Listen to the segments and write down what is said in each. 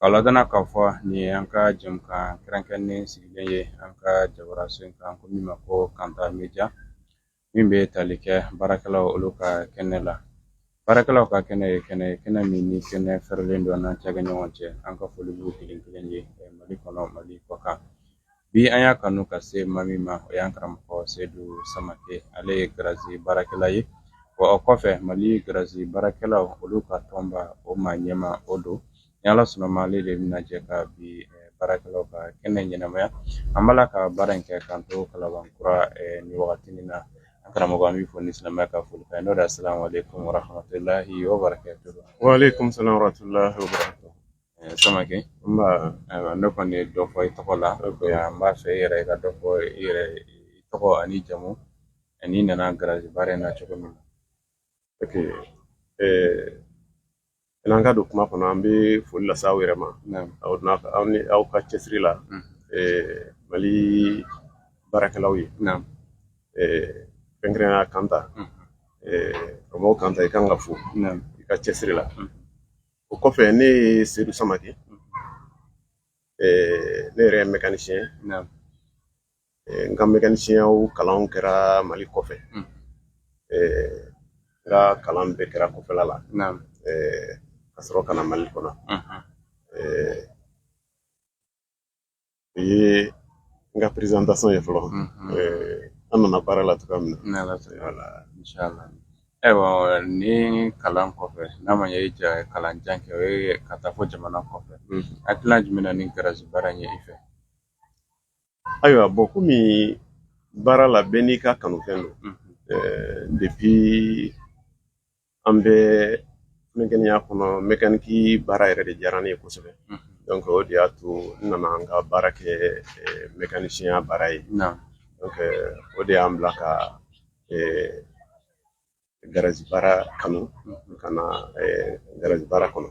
Ka ladɔnniya k'a fɔ nin ye an ka jɛmukan kɛrɛnkɛrɛnnen sigilen ye an ka jabara so in kan ko min ma ko kanta media min bɛ tali kɛ baarakɛlaw olu ka kɛnɛ la baarakɛlaw ka kɛnɛ ye kɛnɛ ye kɛnɛ min ni kɛnɛ fɛrɛlen don n'an cakɛ ɲɔgɔn cɛ an ka foli b'u kelen kelen ye mali kɔnɔ mali kɔkan Bi an y'a kanu ka se maa min ma o y'an karamɔgɔ sedu samakɛ ale ye garazi baarakɛla ye wa o kɔfɛ mali garazi baarakɛla olu ka tɔnba o maa ɲɛmaa o don ni ala sɔnna a ma ale de bɛna jɛ ka bi baarakɛlaw ka kɛnɛ ɲɛnamaya an b'a la ka baara in kɛ k'an to kalabankura nin wagati in na an karamɔgɔ an b'i fo ni silamɛya ka foli kan n'o de salamu alaikum warahmatullahi wabarakatuh wa alaikum salam warahmatullahi Samakɛ ne kɔni ye dɔ fɔ i tɔgɔ la n b'a fɛ e yɛrɛ i ka dɔ fɔ i yɛrɛ i tɔgɔ an'i jamu an'i nana garazi baara in na cogo min na n'an ka don kuma kɔnɔ an bɛ foli lase aw yɛrɛ ma aw aw ni aw ka cɛsiri la mali baarakɛlaw ye fɛnkɛrɛnnenya kanta karamɔgɔ kanta i kan ka fo i ka cɛsiri la o kɔfɛ ne ye sedu samakɛ ne yɛrɛ ye mɛkanisiyɛn n ka mɛkanisiyɛnya kalan kɛra mali kɔfɛ n ka kalan bɛɛ kɛra kɔfɛla la ka sɔrɔ ka na mali kɔnɔ o ye n ka présentation ye fɔlɔ an nana baara la cogoya min na ayiwa ni kalan kɔfɛ n'a ma ɲɛ i y'a kalan jan kɛ o ye ka taa fo jamana kɔfɛ hakilina jumɛn na ni garazi baara in ye i fɛ ayiwa bɔn komi baara la bɛɛ n'i ka kanufɛn don depuis an bɛ funankɛniya kɔnɔ mɛkaniki baara yɛrɛ de diyara ne ye kosɛbɛ donc o de y'a to n nana an ka baara kɛ mɛkanisiyɛnya baara ye donc o de y'an bila ka garazi baara kanu ka na garazi baara kɔnɔ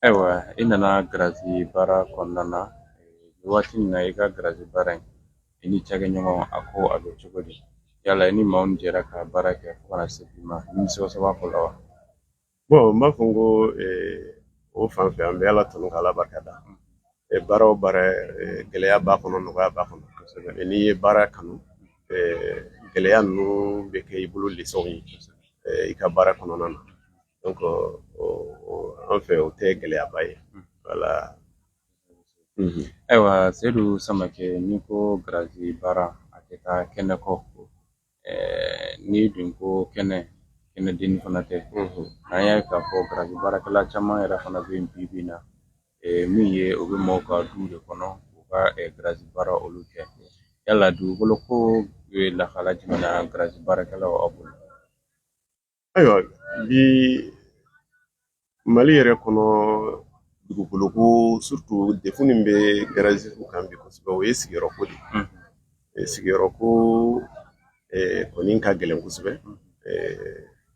Ayiwa i nana garazi baara kɔnɔna na waati min na i ka garazi baara in i ni cakɛ ɲɔgɔn a ko a bɛ cogo di yala i ni maaw min jɛra ka baara kɛ fo ka na se bi ma nimisiwasa b'aw fɛ o la wa bɔn n b'a fɔ n ko o fan fɛ an bɛ ala tanu ka ala barika da baara o baara gɛlɛya b'a kɔnɔ nɔgɔya b'a kɔnɔ kosɛbɛ n'i ye baara kanu gɛlɛya ninnu bɛ kɛ i bolo lesɔn ye i ka baara kɔnɔna na an fɛ o tɛ gɛlɛyaba ye voilà ayiwa sedu samakɛ n'i ko garazi baara a tɛ taa kɛnɛ kɔ n'i dun ko kɛnɛ kɛnɛ dennin fana tɛ an y'a ye k'a fɔ garazi baarakɛla caman yɛrɛ fana bɛ yen bi bi in na min ye u bɛ maaw ka du de kɔnɔ u ka garazi baara olu kɛ yala dugukolo ko bɛ lahala jumɛn na garazi baarakɛlaw aw bolo ayiwa bi mali yɛrɛ kɔnɔ dugukolo ko surtout défi min bɛ garaziw kan bi kosɛbɛ o ye sigiyɔrɔ ko de ye sigiyɔrɔ ko kɔni ka gɛlɛn kosɛbɛ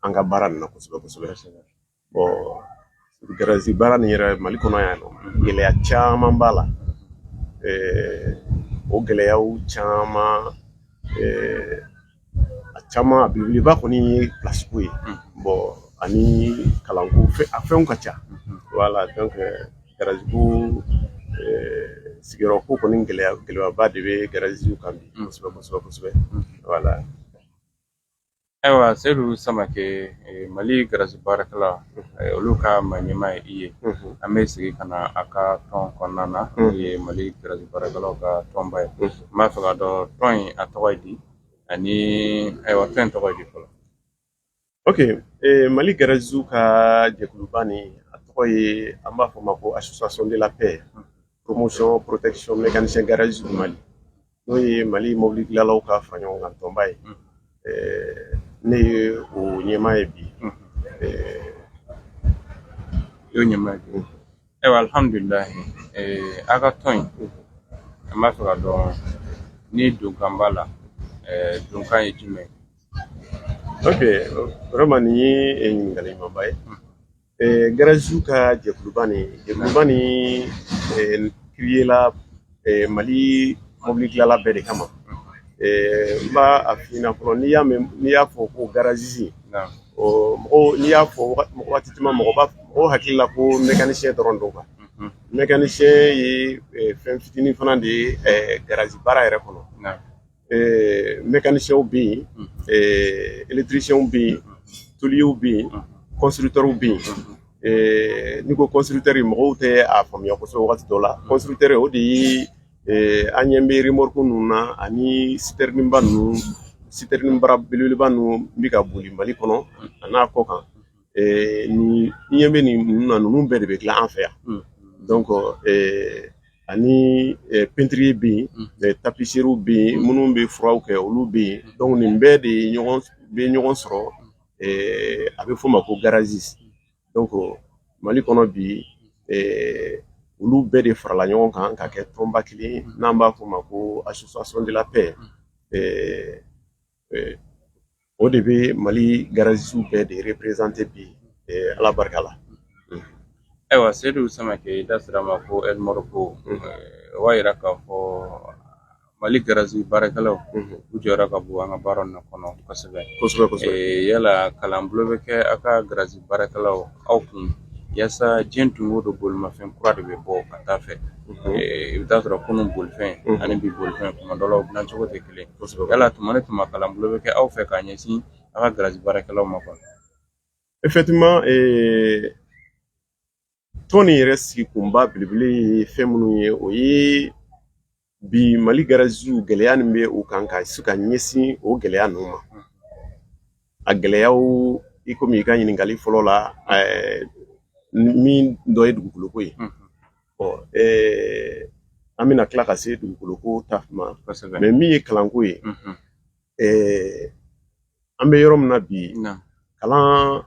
an ka baara nin na kosɛbɛ kosɛbɛ Garazi baara nin yɛrɛ mali kɔnɔ yan nɔ gɛlɛya caman b'a la o gɛlɛyaw caman a caman a belebeleba kɔni ye place ko ye bon ani kalanko a fɛnw ka ca voilà donc garazi ko sigiyɔrɔ ko kɔni gɛlɛyaba de bɛ garaziw kan bi kosɛbɛ kosɛbɛ kosɛbɛ voilà Ayiwa sedu samakɛ mali garazi baarakɛla olu ka maa ɲɛmaa ye i ye an bɛ segin ka na a ka tɔn kɔnɔna na n'o ye mali garazi baarakɛlaw ka tɔnba ye n b'a fɛ ka dɔn tɔn in a tɔgɔ ye di ani ayiwa tɔn in tɔgɔ ye di fɔlɔ ok mali garaziw ka jɛkuluba nin a tɔgɔ ye an b'a fɔ o ma ko association de la paix promotion protection mécanicien garage du mali n'o ye mali mobili dilanlaw ka fara ɲɔgɔn kan tɔnba ye ne ye o ɲɛmaa ye bi y'o ɲɛmaa ye ayiwa alihamudulilayi a ka tɔn in an b'a fɛ ka dɔn ni donkan b'a la donkan ye jumɛn ye ok vraiment nin ye ɲininkali ɲumanba ye Garazisiw ka jɛkuluba nin jɛkuluba nin créé la mali mobili dilanla bɛɛ de kama n b'a f'i ɲɛna fɔlɔ n'i y'a fɔ ko garazisi n'i y'a fɔ waati caman mɔgɔw hakili la ko mécanicien dɔrɔn don quoi mécanicien ye fɛn fitinin fana de ye garazi baara yɛrɛ kɔnɔ mécanicienw bɛ yen électricienw bɛ yen tôlierw bɛ yen constructeurw bɛ yen n'i ko constructeur mɔgɔw tɛ a faamuya kosɛbɛ waati dɔ la constructeur o de ye an ɲɛ bɛ remorque ninnu na ani citerneba ninnu citerne bara belebeleba ninnu bɛ ka boli mali kɔnɔ a n'a kɔ kan n'i ɲɛ bɛ ninnu na ninnu bɛɛ de bɛ dilan an fɛ yan ani pɛntiri bɛ yen tapisiriw bɛ yen minnu bɛ furaw kɛ olu bɛ yen dɔnku nin bɛɛ de bɛ ɲɔgɔn sɔrɔ a bɛ f'o ma ko garazisi dɔnku mali kɔnɔ bi olu bɛɛ de farala ɲɔgɔn kan ka kɛ tɔnba kelen n'an b'a f'o ma ko association de la paix O de bɛ mali garazisiw bɛɛ de représenter bi ala barika la ayiwa sedu samakɛ i da sera ma ko ko o b'a jira k'a fɔ mali garazi baarakɛlaw u jɔyɔrɔ ka bon an ka baara in kɔnɔ kosɛbɛ kosɛbɛ yala kalan bulon bɛ kɛ aw ka garazi baarakɛlaw aw kun walasa diɲɛ don o don bolimafɛn kura de bɛ bɔ ka taa fɛ i bɛ taa sɔrɔ kunun bolifɛn ani bi bolifɛn tuma dɔ la u dilancogo tɛ yala tuma ni tuma kalan bulon bɛ kɛ aw fɛ k'a ɲɛsin aw ka garazi baarakɛlaw ma quoi effectivement tɔn nin yɛrɛ sigi kunba belebele ye fɛn minnu ye o ye bi mali garazisiw gɛlɛya min bɛ u kan ka se ka ɲɛsin o gɛlɛya ninnu ma a gɛlɛyaw i komi i ka ɲininkali fɔlɔ la min dɔ ye dugukoloko ye an bɛna tila ka se dugukoloko ta ma mɛ min ye kalanko ye an bɛ yɔrɔ min na bi kalan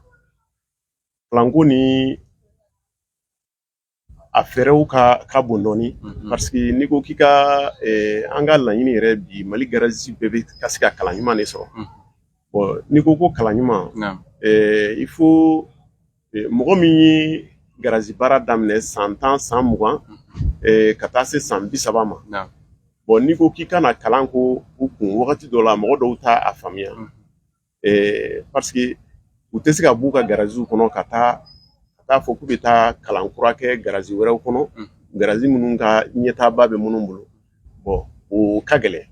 kalanko nin a fɛɛrɛw ka bon dɔɔni parce que n'i ko k'i ka an ka laɲini yɛrɛ bi mali garazisi bɛɛ bɛ ka se ka kalan ɲuman de sɔrɔ bɔn n'i ko ko kalan ɲuman il faut mɔgɔ min ye garazi baara daminɛ san tan san mugan ka taa se san bi saba ma bɔn n'i ko k'i ka na kalan k'u kun wagati dɔ la mɔgɔ dɔw t'a faamuya ɛɛ paseke u tɛ se ka b'u ka garaziw kɔnɔ ka t'a fɔ k'u bɛ taa kalan kura kɛ garazi wɛrɛw kɔnɔ garazi minnu ka ɲɛtaaba bɛ minnu bolo bɔn o ka gɛlɛn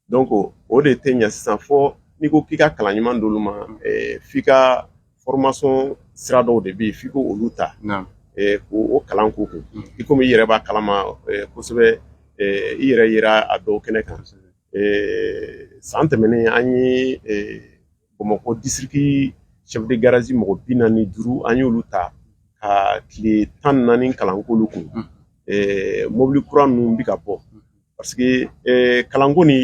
dɔnku o de tɛ ɲɛ sisan fo n'i ko k'i ka kalan ɲuman d'olu ma f'i ka formation sira dɔw de bɛ yen f'i k'olu ta k'o kalan k'u kun i komi i yɛrɛ b'a kalama kosɛbɛ i yɛrɛ yera a dɔw kɛnɛ kan san tɛmɛnen an ye bamakɔ district chef de garage mɔgɔ bi naani ni duuru an y'olu ta ka tile tan naani kalan k'olu kun mɔbili kura ninnu bɛ ka bɔ parce que kalanko nin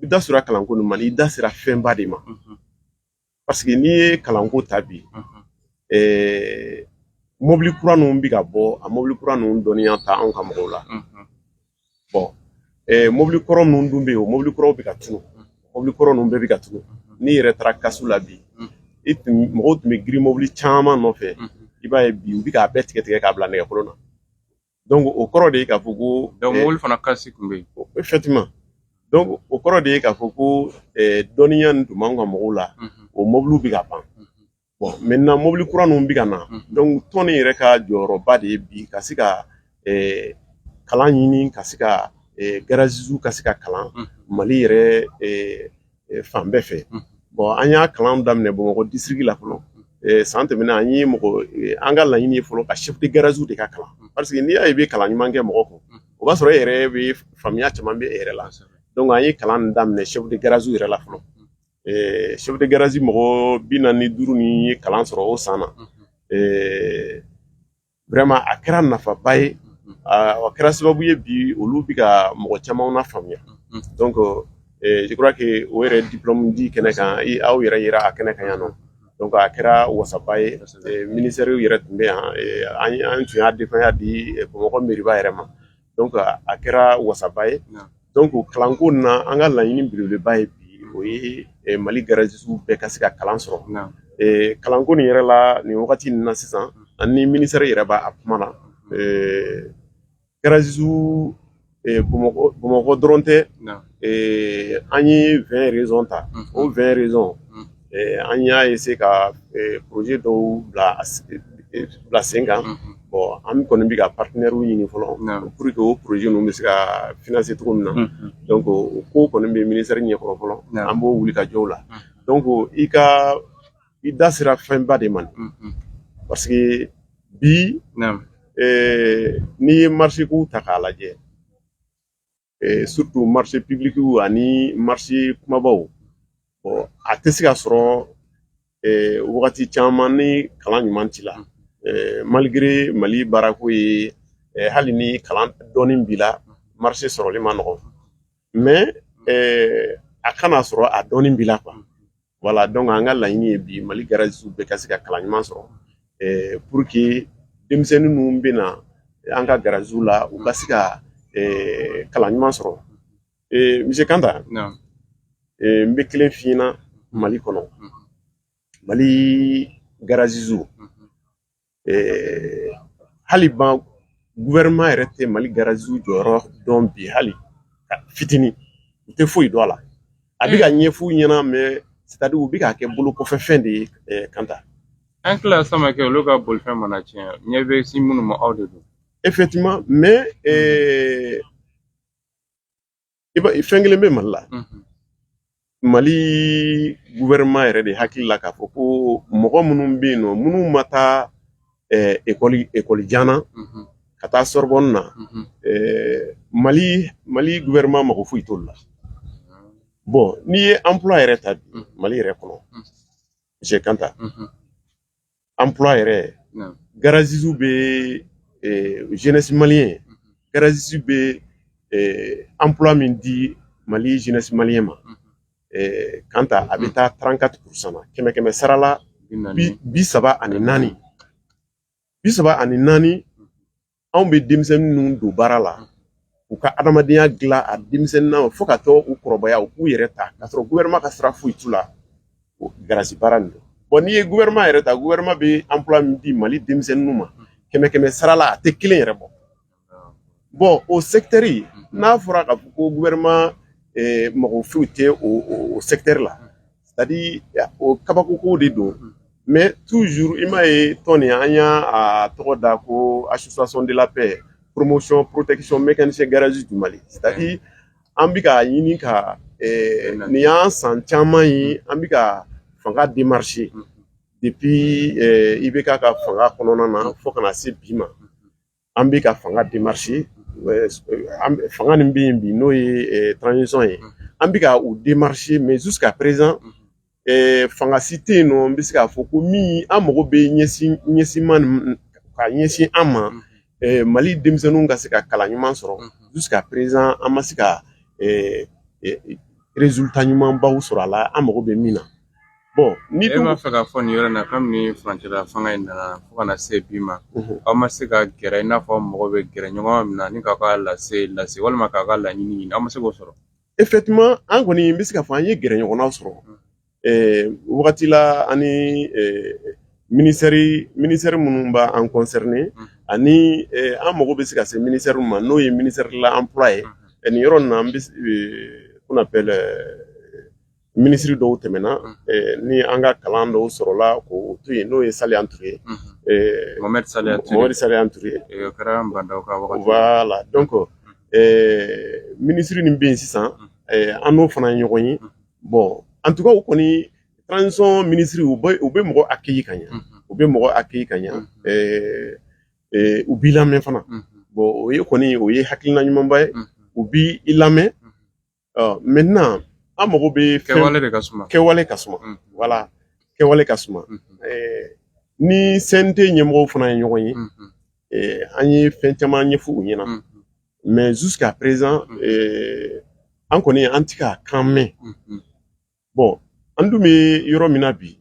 i da sera kalanko nin ma i da sera fɛnba de ma paseke n'i ye kalanko ta bi mɔbili kura ninnu bɛ ka bɔ a mɔbili kura ninnu dɔnniya tɛ anw ka mɔgɔw la bɔn mɔbili kɔrɔ ninnu dun bɛ yen o mɔbili kɔrɔw bɛ ka tunun mɔbili kɔrɔ ninnu bɛɛ bɛ ka tunun n'i yɛrɛ taara casse la bi mɔgɔw tun bɛ girin mɔbili caman nɔfɛ i b'a ye bi u bɛ k'a bɛɛ tigɛ tigɛ k'a bila nɛgɛkolon na donc o kɔrɔ de ye k'a fɔ ko donc mobili fana kasi tun bɛ yen effectivement donc o kɔrɔ de ye k'a fɔ ko dɔnniya nin tun b'an ka mɔgɔw la o mobiliw bɛ ka ban bon maintenant mobili kura ninnu bɛ ka na donc tɔn nin yɛrɛ ka jɔyɔrɔba de ye bi ka se ka kalan ɲini ka se ka garagistew ka se ka kalan mali yɛrɛ fan bɛɛ fɛ bon an ye kalan daminɛ bamakɔ district la fɔlɔ san tɛmɛnen an ye mɔgɔ an ka laɲini ye fɔlɔ ka chef de garagew de ka kalan parce que n'i y'a ye i bɛ kalan ɲuman kɛ mɔgɔ kun o b'a sɔrɔ e yɛrɛ bɛ faamuya caman bɛ e yɛrɛ la donc an ye kalan daminɛ chef de garagew yɛrɛ la fɔlɔ chef de garage mɔgɔ bi naani ni duuru ni ye kalan sɔrɔ o san na vraiment a kɛra nafaba ye a kɛra sababu ye bi olu bɛ ka mɔgɔ caman nafaamuya donc je crois que o yɛrɛ diplôme di kɛnɛ kan aw yɛrɛ yera a kɛnɛ kan yan nɔ donc a kɛra wasaba ye ministère yɛrɛ tun bɛ yan an tun y'a denfaya di bamakɔ mairie ba yɛrɛ ma donc a kɛra wasaba ye donc kalanko in na an ka laɲini belebeleba ye bi o ye Mali garagiste bɛɛ ka se ka kalan sɔrɔ kalanko nin yɛrɛ la nin wagati in na sisan an ni ministère yɛrɛ b'a kuma na garagiste Bamakɔ dɔrɔn tɛ an ye 20 régions ta o 20 régions an y'a essayer ka projet dɔw bila sen kan bon an kɔni bɛ ka partenairew ɲini fɔlɔ pour que o projet ninnu bɛ se ka financer cogo min na donc o ko kɔni bɛ ministère ɲɛ kɔrɔ fɔlɔ an b'o wuli ka jɔw la donc i ka i da sera fɛnba de ma parce que bi n'i ye marché ko ta k'a lajɛ eh, surtout marché public ani marché kumabaw bon a tɛ se ka sɔrɔ eh, wagati caman ni kalan ɲuman t'i la eh, malgré mali baarako ye eh, hali ni kalan dɔɔni b'i la marché sɔrɔli ma nɔgɔn mais eh, a ka n'a sɔrɔ a dɔɔni b'i la quoi voilà donc an ka laɲini ye bi mali garagistew bɛɛ ka se ka kalan ɲuman sɔrɔ pour que denmisɛnnin minnu bɛ na an ka garagew la u ka se ka kalan ɲuman sɔrɔ monsieur kanta n bɛ kelen f'i ɲɛna mali kɔnɔ mali garagistew hali ban gouvernement yɛrɛ tɛ mali garagistew jɔyɔrɔ dɔn bi hali fitinin u tɛ foyi dɔn a la a bɛ ka ɲɛf'u ɲɛna mais c'est-à-dire u bɛ k'a kɛ bolo kɔfɛ fɛn de ye kanta an tila sama kɛ olu ka bolifɛn mana tiɲɛ ɲɛ bɛ sin minnu ma aw de don effectivement mais i b'a fɛn kelen bɛ mali la mali gouvernement yɛrɛ de hakili la k'a fɔ ko mɔgɔ minnu bɛ yen nɔ minnu ma taa ekɔli ekɔli jan na ka taa sorbonne na mali mali gouvernement mago foyi t'olu la bon n'i ye emploi yɛrɛ ta bi mali yɛrɛ kɔnɔ monsieur kanta an p yɛrɛ gazsiw bɛ jɛnɛsi mali ye gazsi bɛ an p min di mali jɛnɛsi mali ma kan ta a bɛ taa taarankanti kurusan kɛmɛ kɛmɛ sarala bi saba ani naani bi saba ani naani anw bɛ denmisɛnnin ninnu don baara la u ka adamadenya dilan a denmisɛnnin na fo ka taa u kɔrɔbaya u k'u yɛrɛ ta k'a sɔrɔ gouvernement ka sira foyi t'u la garasi baara nin don bon n'i ye gouvernement yɛrɛ ta gouvernement bɛ emploi min di mali denmisɛnninw ma kɛmɛ kɛmɛ sara la a tɛ kelen yɛrɛ bɔ bon o secteur n'a fɔra k'a fɔ ko gouvernement eh, mago foyi tɛ o secteur la o kabakoko de don mɛ tu i ma ye tɔn nin an y'a tɔgɔ da ko asason dela pe poromosiyɔn porotesiyɔn bɛ kɛ ni se gariɛrɛzsi di mali an bɛ ka ɲini ka nin y'an san caman ye an bɛ ka fanga di marisi de bi i bɛ ka ka fanga kɔnɔna na fo kana na se bi ma an bɛ ka fanga démarcher fanga min bɛ yen bi n'o ye transition ye an bɛ ka u démarcher mais jusqu'à présent fanga si tɛ yen nɔ n bɛ se k'a fɔ ko min an mago bɛ ɲɛsin ɲɛsinma ka ɲɛsin an ma mali denmisɛnninw ka se ka kalan ɲuman sɔrɔ jusqu'à présent an ma se ka résultat ɲumanbaw sɔrɔ a la an mago bɛ min na e b'a fɛ k'a fɔ nin yɔrɔ in na kabini furancɛla fanga in nana fo ka na se bi ma aw ma se ka gɛrɛ i n'a fɔ mɔgɔ bɛ gɛrɛ ɲɔgɔn min na ni k'a ka lase lase walima k'a ka laɲini ɲini aw ma se k'o sɔrɔ effectivement an kɔni n bɛ se k'a fɔ an ye gɛrɛ ɲɔgɔnna sɔrɔ wagati la ani ministère ministère minnu b'an concerné ani an mago bɛ se ka se ministère ma n'o ye ministère de l'emploi ye nin yɔrɔ nin na an bɛ ko bɛɛ minisiriri dɔw tɛmɛna ni an ka kalan dɔw sɔrɔla ko to yen n'o ye sa an tun ye sa la dɔn kɔ minisiriri min bɛ yen sisan an n'o fana ye ɲɔgɔn ye bɔn an tɔgɔ kɔni transɔn minisiriri u u bɛ mɔgɔ a kki ka ɲɛ u bɛ mɔgɔ a kki ka ɲɛ u b'i lamɛn fana bɔn o ye kɔni o ye hakilikiina ɲumanba ye u b' i lamɛn an mago bɛ kɛwale de ka suma kɛwale ka suma voilà kɛwale ka suma ni CNT ɲɛmɔgɔw fana ye ɲɔgɔn ye an ye fɛn caman ɲɛfɔ u ɲɛna mais jusqu'à présent an kɔni an ti k'a kan mɛn bon an dun bɛ yɔrɔ min na bi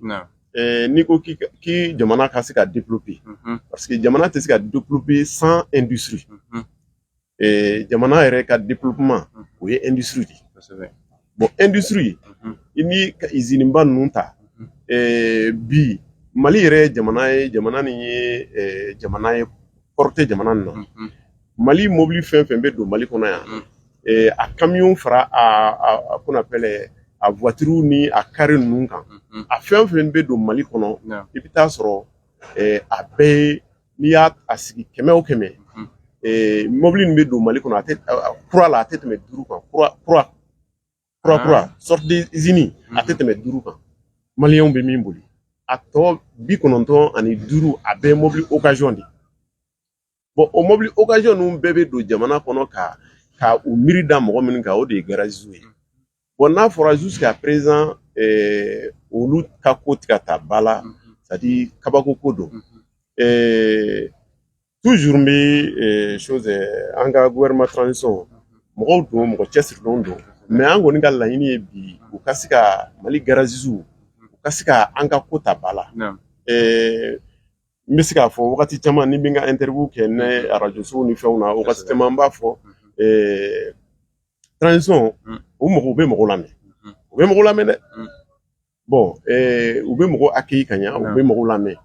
n'i ko k'i jamana ka se ka développer parce que jamana tɛ se ka développer sans industrie jamana yɛrɛ ka développement o ye industrie de ye bon industrie i ni ka izini ba ninnu ta bi mali yɛrɛ jamana ye jamana nin ye jamana ye port tɛ jamana na mali mobili fɛn fɛn bɛ don mali kɔnɔ yan mm. eh, a kamiyɔnw fara qu'on appelle a voiturew ni a kaare ninnu kan mm-hmm. a fɛn fɛn bɛ don mali kɔnɔ i bɛ taa sɔrɔ eh, a bɛɛ ye n'i y'a sigi kɛmɛ o kɛmɛ mm-hmm. eh, mobili min bɛ don mali kɔnɔ kura la a tɛ tɛmɛ duuru kan kura kura kura ah. kura sortie d'usine a tɛ mm-hmm. tɛmɛ duuru kan maliyɛnw bɛ min boli a tɔ bi kɔnɔntɔn ani duuru a bɛɛ mobili okaziyɔn de bon o mɔbili okaziyɔn ninnu bɛɛ bɛ don jamana kɔnɔ ka ka u miiri da mɔgɔ minw kan o de ye garagistew ye bon n'a fɔra jusqu'à présent eh, olu ka ko ti ka ta ba la c'est-à-dire kabako ko don eh, toujours n bɛ eh, chose an ka gouvernement transition mɔgɔw don mɔgɔ cɛsirilenw don mais an kɔni ka laɲini ye bi u ka se ka mali garagistew u ka se ka an ka ko ta ba la n bɛ se k'a fɔ wagati caman ni n bɛ n ka interview kɛ ne arajosow ni fɛnw na wagati caman n b'a fɔ transition u mɔgɔ u bɛ mɔgɔ lamɛn u bɛ mɔgɔ lamɛn dɛ bon u bɛ mɔgɔ accueillir ka ɲɛ u bɛ mɔgɔ lamɛn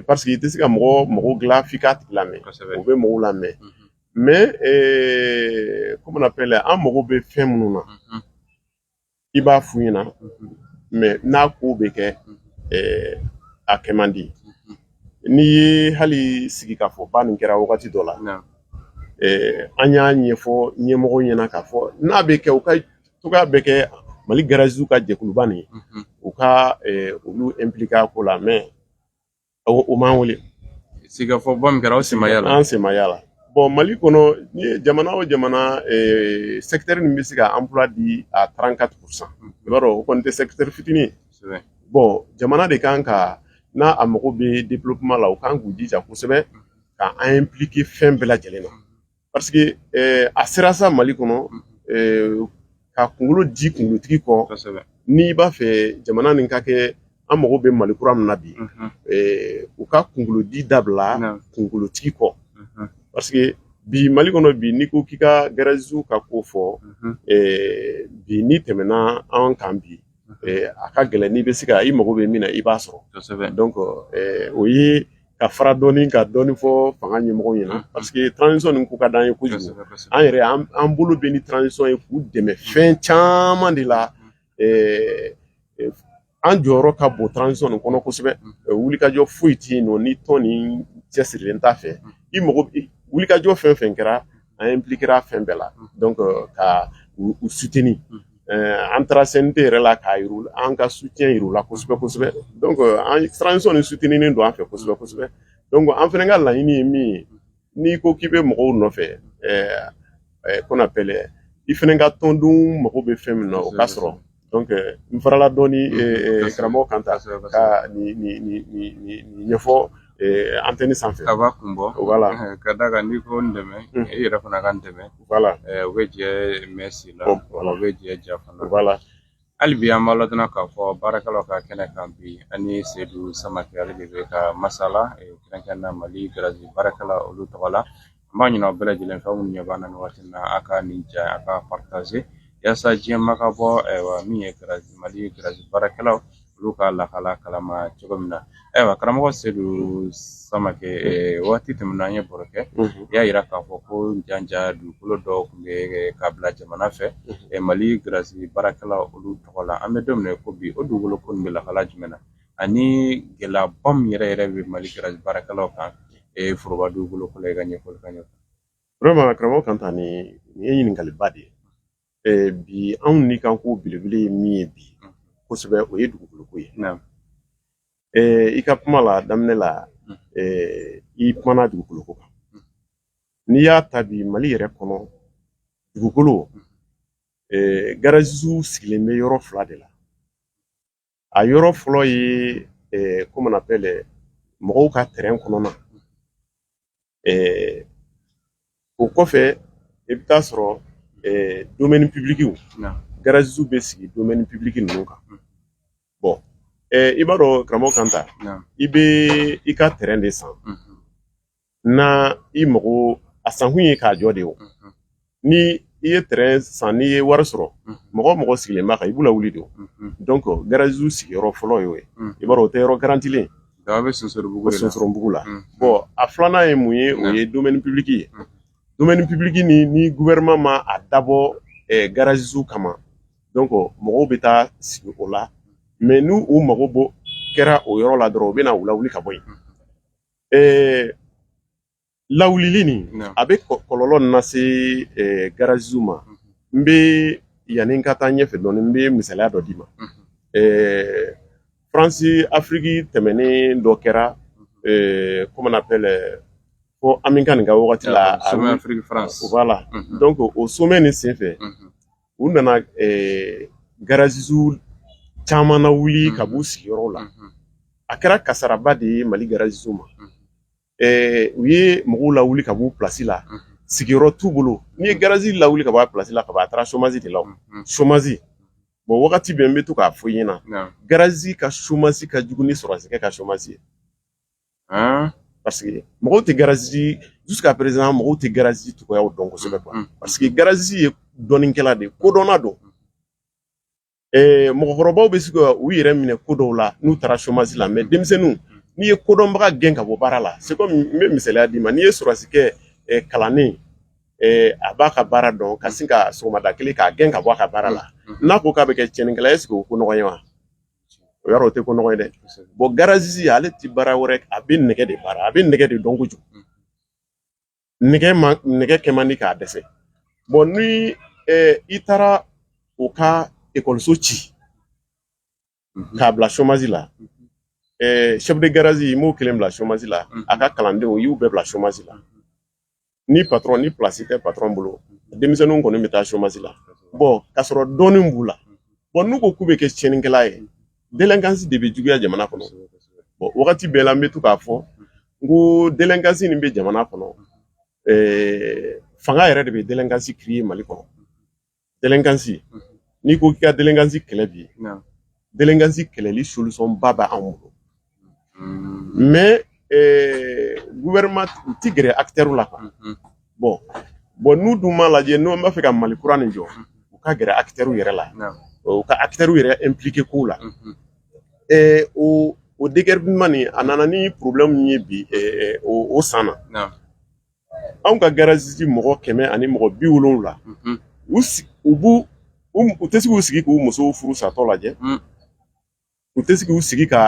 parce que i tɛ se ka mɔgɔ mago dilan f'i k'a tigi lamɛn u bɛ mɔgɔ lamɛn mais comme on appelle an mago bɛ fɛn minnu na i b'a f'u ɲɛna mais n'a ko bɛ kɛ a kɛ man di n'i ye hali sigikafɔba nin kɛra wagati dɔ la an y'a ɲɛfɔ ɲɛmɔgɔw ɲɛna k'a fɔ n'a bɛ kɛ u ka cogoya bɛɛ kɛ mali garagistew ka jɛkuluba nin u ka olu impliquer ko la mais O m'an wele sigikafɔba min kɛra aw sen ma y'a la, an sen ma y'a la bon Mali kɔnɔ n'i ye jamana o jamana secteur min bɛ se ka emploi di à 34 pour 100 i b'a dɔn o kɔni tɛ secteur fitini ye, kosɛbɛ, bon jamana de ka kan ka n'a a mago bɛ développement la u ka kan k'u jija kosɛbɛ ka an impliquer fɛn bɛɛ lajɛlen na parce que eh, a sera sa mali kɔnɔ eh, ka kunkolo di kunkolotigi kɔ n'i b'a fɛ jamana nin ka kɛ an mago bɛ mali kura min na bi mhm. eh, u ka kunkolodi dabila kunkolotigi kɔ mhm. parce que bi mali kɔnɔ bi n'i ko k'i ka garagew ka ko fɔ mhm. bi n'i tɛmɛna an kan bi a ka gɛlɛn n'i bɛ se ka i mago bɛ min na i b'a sɔrɔ donc o ye ka fara dɔɔni ka dɔɔni fɔ fanga ɲɛmɔgɔw ɲɛna parce que transition nin ko ka d'an ye kojugu an yɛrɛ an bolo bɛ ni transition ye k'u dɛmɛ fɛn caman de la an jɔyɔrɔ ka bon transition nin kɔnɔ kosɛbɛ wulikajɔ foyi tɛ yen nɔ ni tɔn nin cɛsirilen t'a fɛ i mago wulikajɔ fɛn fɛn kɛra an impliquera fɛn bɛɛ la donc euh, ka u soutenir euh, an taara CNT yɛrɛ la k'a yir'u an ka soutien yir'u la kosɛbɛ kosɛbɛ donc euh, an transition nin souteninen don an fɛ kosɛbɛ kosɛbɛ donc an fɛnɛ ka laɲini ye min ye n'i ko k'i bɛ mɔgɔw nɔfɛ qu'on appelle i fɛnɛ ka tɔndenw mago bɛ fɛn min na o ka sɔrɔ n farala dɔɔni karamɔgɔ Kanta ka ɲɛfɔ antenne sanfɛ a b'a kun bɔ voilà ka d'a kan n'i ko n dɛmɛ i yɛrɛ fana ka n dɛmɛ voilà u bɛ jɛ misi la voilà u bɛ jɛ ja fana voilà hali bi an b'a ladɔnniya k'a fɔ baarakɛlaw ka kɛnɛ kan bi an ni Sedu Samakɛ ale de bɛ ka masala kɛrɛnkɛrɛnnenya mali garage baarakɛla olu tɔgɔ la N b'a ɲin'aw bɛɛ lajɛlen fɛ aw minnu ɲɛ b'an na nin waati in na a ka nin ja a ka partager yaasa diɲɛ maa ka bɔ ayiwa min ye garage Mali garage baarakɛlaw olu ka lahala kalama cogo min na ayiwa karamɔgɔ Sedu Samakɛ waati tɛmɛna an ye baro kɛ i y'a jira k'a fɔ ko janja dugukolo dɔw tun bɛ ka bila jamana fɛ Mali garage baarakɛlaw olu tɔgɔ la an bɛ don min na i ko bi o dugukolo ko nin bɛ lahala jumɛn na ani gɛlɛyaba min yɛrɛ yɛrɛ bɛ mali garage baarakɛlaw kan e ye foroba dugukolo ko la i ka ɲɛfɔli kan vraiment karamɔgɔ Kanta nin ye ɲininkaliba de ye eh, bi anw ni kan ko belebele ye min ye bi mm-hmm. kosɛbɛ o ye dugukolo ko ye eh, i ka kuma la daminɛ la mm-hmm. eh, i kumana dugukolo ko kan mm-hmm. n'i y'a ta bi mali yɛrɛ kɔnɔ dugukolo garagew sigilen bɛ yɔrɔ fila de la a yɔrɔ fɔlɔ ye comment on appelle mɔgɔw ka terrain kɔnɔna o kɔfɛ i bɛ t'a sɔrɔ domaine public garagew bɛ sigi domaine public ninnu kan bon i b'a dɔn karamɔgɔ Kanta i bɛ i ka terrain de san na i mago a sankun ye k'a jɔ de o ni i ye tɛrɛn san n'i ye wari sɔrɔ mɔgɔ o mɔgɔ sigilen b'a kan i b'u lawuli de o donc garaziw sigiyɔrɔ fɔlɔ y'o ye i b'a dɔn o tɛ yɔrɔ garantilen a bɛ sonsorobugu la bɔn a filanan ye mun ye o ye domɛni pibiliki ye domɛni pibiliki ni ni guvɛrɛnman ma a dabɔ garaziw kama donc mɔgɔw bɛ taa sigi o la mɛ n'u u mago bɔ kɛra o yɔrɔ la dɔrɔn u bɛna u lawuli ka bɔ yen ɛɛ lawulili nin a bɛ kɔlɔlɔ nin lase ɛɛ garaziw ma mhm. n bɛ yanni n ka taa ɲɛfɛ dɔɔni n bɛ misaliya dɔ d'i ma ɛɛ faransi afiriki tɛmɛnen dɔ kɛra ɛɛ comment on appelle ko ami kane ka wagati la a sommet afiriki faransi voilà donc o sommet nin senfɛ u nana garazi caman nawuli ka b'u sigiyɔrɔ la a kɛra kasaraba de ye mali garaziw ma u ye mɔgɔw lawuli ka b'u plasi la sigiyɔrɔ t'u bolo n'i ye garazi lawuli ka bɔ a plasi la kaban a taara somasi de la somasi bon wagati bɛɛ n bɛ to k'a fɔ i ɲɛna garazi ka somasi ka jugu ni sɔrɔsikɛ ka somasi ye Aa parce que mɔgɔw tɛ garazi jusqu'à présent mɔgɔw tɛ garazi cogoya dɔn kosɛbɛ parce que garazi ye dɔnnikɛla de kodɔnna don ɛɛ mɔgɔkɔrɔbaw bɛ se ka u yɛrɛ minɛ ko dɔw la n'u taara somasi la mɛ denmisɛnninw n'i ye kodɔnbaga gɛn ka bɔ baara la c'est comme n bɛ misaliya d'i ma n'i ye sɔrɔsikɛ kalannen a b'a ka baara dɔn ka sin ka sɔgɔmada kelen k'a gɛn ka bɔ a ka baara la n'a ko k'a bɛ kɛ tiɲɛnikɛla est-ce que o ko nɔgɔn ye wa o yɔrɔ o tɛ ko nɔgɔn ye dɛ bɔn garazi ale tɛ baara wɛrɛ a bɛ nɛgɛ de baara a bɛ nɛgɛ de dɔn kojugu nɛgɛ ma nɛgɛ kɛ man di k'a dɛsɛ bɔn ni i taara u ka ekɔliso ci k'a bila somasi la chef de garage i m'o kelen bila somasi la a ka kalandenw y'u bɛɛ bila somasi la ni patron ni place tɛ patron bolo denmisɛnninw kɔni bɛ taa chômage la bon k'a sɔrɔ dɔnni b'u la bon n'u ko k'u bɛ kɛ tiɲɛnikɛla ye délinquance de bɛ juguya jamana kɔnɔ bon wagati bɛɛ la n bɛ to k'a fɔ n ko délinquance min bɛ jamana kɔnɔ ɛɛ fanga yɛrɛ de bɛ délinquance créer mali kɔnɔ dɛlɛnkansi n'i ko k'i ka dɛlɛnkansi kɛlɛ bi dɛlɛnkansi kɛlɛli solution ba bɛ anw bolo mɛ gouvernement u ti gɛrɛ acteur la quoi bon bon n'u dun m'a lajɛ n'u b'a fɛ ka mali kura nin jɔ u ka gɛrɛ acteur yɛrɛ la u ka acteur yɛrɛ impliquer kow la o o déguerpissement nin a nana ni problème ye bi o san na anw ka garazisi mɔgɔ kɛmɛ ani mɔgɔ bi wolonwula u tɛ se k'u sigi k'u musow furu satɔ lajɛ u tɛ se k'u sigi ka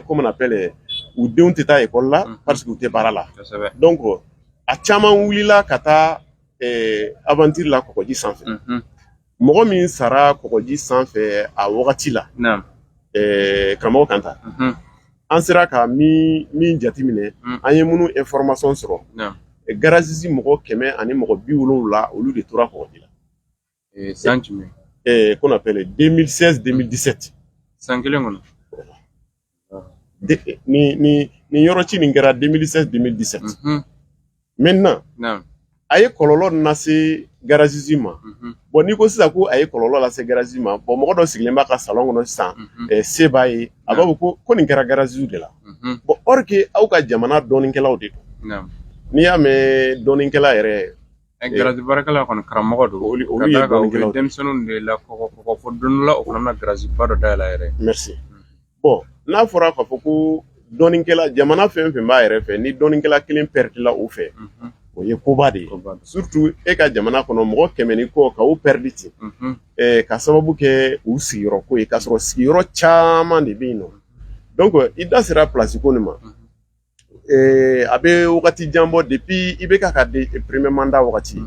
comment on appelle u denw tɛ taa ekɔli la parce que u tɛ baara la donc a caman wulila ka taa aventure la kɔgɔji sanfɛ mɔgɔ min sara kɔgɔji sanfɛ a wagati la karamɔgɔ kanta an sera ka min jateminɛ an ye minnu information sɔrɔ garazisi mɔgɔ kɛmɛ ani mɔgɔ bi wolonwula olu de tora kɔgɔji la san jumɛn qu'on appelle 2016 2017 san kelen kɔnɔ nin yɔrɔ ci nin kɛra 2016 2017 maintenant a ye kɔlɔlɔ lase garazisi ma bon n'i ko sisan ko a ye kɔlɔlɔ lase garazisi ma bon mɔgɔ dɔ sigilen b'a ka salon kɔnɔ sisan se b'a ye a b'a fɔ ko nin kɛra garazisiw de la bon or que aw ka jamana dɔnnikɛlaw de don n'i y'a mɛn dɔnnikɛla yɛrɛ Ɛ garaji baarakɛla kɔni karamɔgɔ don olu olu ye dɔnnikɛlaw de ye denmisɛnninw de la kɔkɔ kɔkɔ fɔ don dɔ la o fana bɛna garaji ba dɔ dayɛlɛ a yɛrɛ ye merci bon n'a fɔra k'a fɔ ko dɔnnikɛla jamana fɛn o fɛn b'a yɛrɛ fɛ ni dɔnnikɛla kelen pɛridila o fɛ unhun o ye koba de ye koba don surtout e ka jamana kɔnɔ mɔgɔ kɛmɛ ni kɔ ka o pɛridi ten unhun eh, ka sababu kɛ u sigiyɔrɔ ko ye k'a sɔrɔ sigiyɔrɔ caman de bɛ yen nɔ donc i da sera place ko nin ma a bɛ wagati jan bɔ depuis IBK ka premier mandat wagati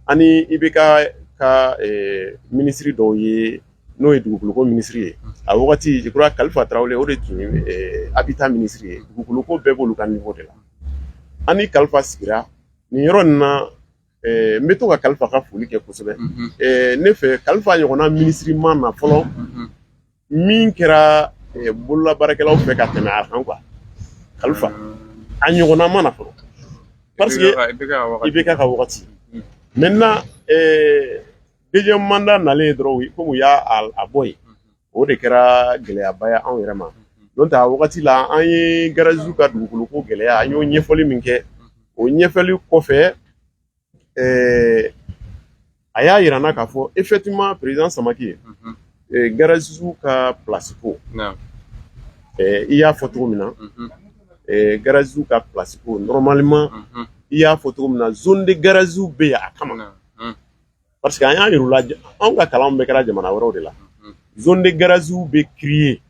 ani IBK ka minisiri dɔw ye n'o ye dugukolo ko minisiri ye a wagati je crois kalifa tarawele o de tun ye habitat minisiri ye dugukolo ko bɛɛ b'olu ka niveau de la ani kalifa sigira nin yɔrɔ nin na n bɛ to ka kalifa ka foli kɛ kosɛbɛ ne fɛ kalifa ɲɔgɔnna minisiri ma na fɔlɔ min kɛra bololabaarakɛlaw fɛ ka tɛmɛ a kan quoi kalifa a ɲɔgɔnna ma na fɔlɔ parce que IBK ka wagati maintenant deuxième mandat nalen dɔrɔn komi u y'a bɔ yen o de kɛra gɛlɛyaba ye anw yɛrɛ ma donc a wagati la an ye garazisiw ka dugukolo ko gɛlɛya an y'o ɲɛfɔli min kɛ o ɲɛfɔli kɔfɛ a y'a jira n na k'a fɔ effectivement président samake garazisiw ka place ko i y'a fɔ cogo min na garazisiw ka place ko normalement i y'a fɔ cogo min na zone de garaziw bɛ yen a kama parce que an y'a yir'u la anw ka kalan bɛɛ kɛra jamana wɛrɛw de la zone de garaziw bɛ kiriye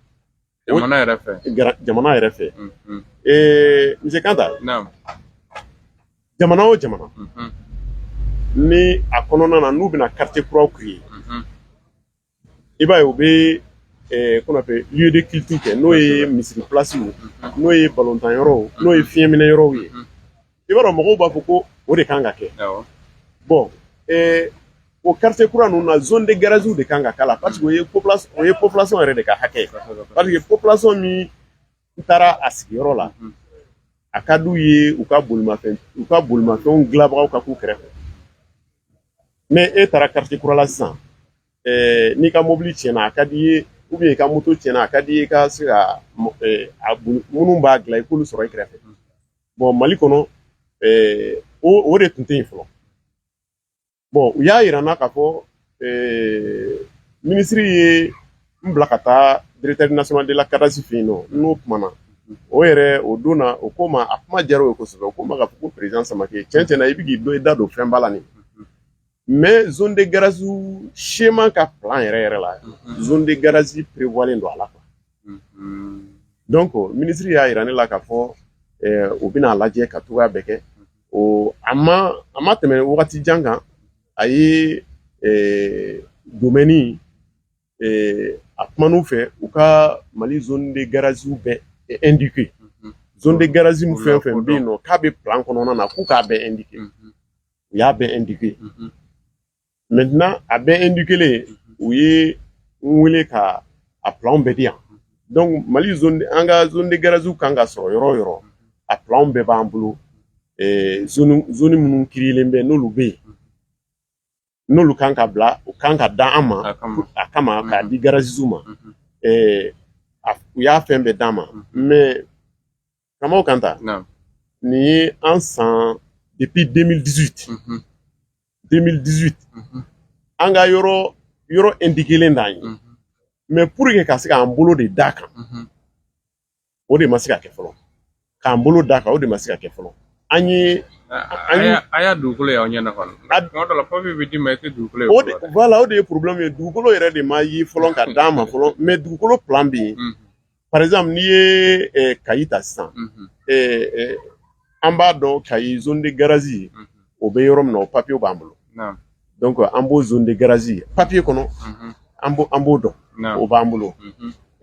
jamana yɛrɛ fɛ jamana yɛrɛ fɛ ee monsieur kanta jamana o jamana ni a kɔnɔna na n'u bɛna quartier kuraw kiriye i b'a ye u bɛ qu'on appelle lieu de culture kɛ n'o ye misiri place ye n'o ye balontan yɔrɔw n'o ye fiɲɛminɛ yɔrɔw ye i b'a dɔn mɔgɔw b'a fɔ ko o de kan ka kɛ bon o quartier kura ninnu na zone de garaziw de kan ka k'a la parce que o ye population yɛrɛ de ka hakɛ ye parce que population min u taara a sigiyɔrɔ la a ka d'u ye u ka bolimafɛn u ka bolimafɛnw dilanbagaw ka k'u kɛrɛfɛ mais e taara quartier kura la sisan eh, n'i ka mobili tiɲɛna a ka d'i ye ou bien i ka moto tiɲɛna a ka d'i ye i ka se ka eh, minnu b'a dilan i k'olu sɔrɔ i kɛrɛfɛ bon mali kɔnɔ eh, o de tun tɛ yen fɔlɔ bon u y'a jira n na k'a fɔ minisiri ye n bila ka taa directeur national de la cadastre fɛ yen nɔ n n'o kumana o yɛrɛ o don na o ko ma a kuma diyara o ye kosɛbɛ o ko ma k'a fɔ ko président samakɛ cɛn cɛn na i bɛ k'i da don fɛn ba la nin mais zone de garazi schéma ka plan yɛrɛ yɛrɛ la zone de garazi prévoilen don a la Donc minisiri y'a jira ne la k'a fɔ u bɛna a lajɛ ka cogoya bɛɛ kɛ a a ma tɛmɛ wagati jan kan a ye domaine a kuma n'u fɛ u ka mali zone de garaziw bɛɛ indiqué zone de garazi fɛn o fɛn bɛ yen nɔ k'a bɛ plan kɔnɔna na k'u k'a bɛɛ indiqué u y'a bɛɛ indiqué maintenant a bɛɛ indiquelen u ye n wele ka a plan bɛɛ di yan donc mali an ka zone de garaziw kan ka sɔrɔ yɔrɔ yɔrɔ a plan bɛɛ b'an bolo zone minnu créelen bɛ n'olu bɛ yen n'olu kan ka bila u kan ka d'an ma a kama k'a di garaziw ma u y'a fɛn bɛɛ d'an ma mais kama kanta nin ye an san depuis 2018 mm 2018 an ka yɔrɔ yɔrɔ indiquelen d'an ye mais pour que ka se k'an bolo de d'a kan o de ma se ka kɛ fɔlɔ k'an bolo d'a kan o de ma se ka kɛ fɔlɔ an ye a y'a dugukolo y'aw ɲɛna kɔni tuma dɔ la papiye bɛ d'i ma i tɛ dugukolo ye o de voilà o de ye problème ye dugukolo yɛrɛ de ma ye fɔlɔ ka d'an ma fɔlɔ mais dugukolo plan bɛ yen par exemple n'i ye eh, kayi ta sisan mhm. eh, eh, an b'a dɔn kayi zone de garazi mhm. o bɛ yɔrɔ min na o papiyew b'an bolo donc an b'o zone de garazi papiye kɔnɔ mhm. an b'o dɔn o b'an bolo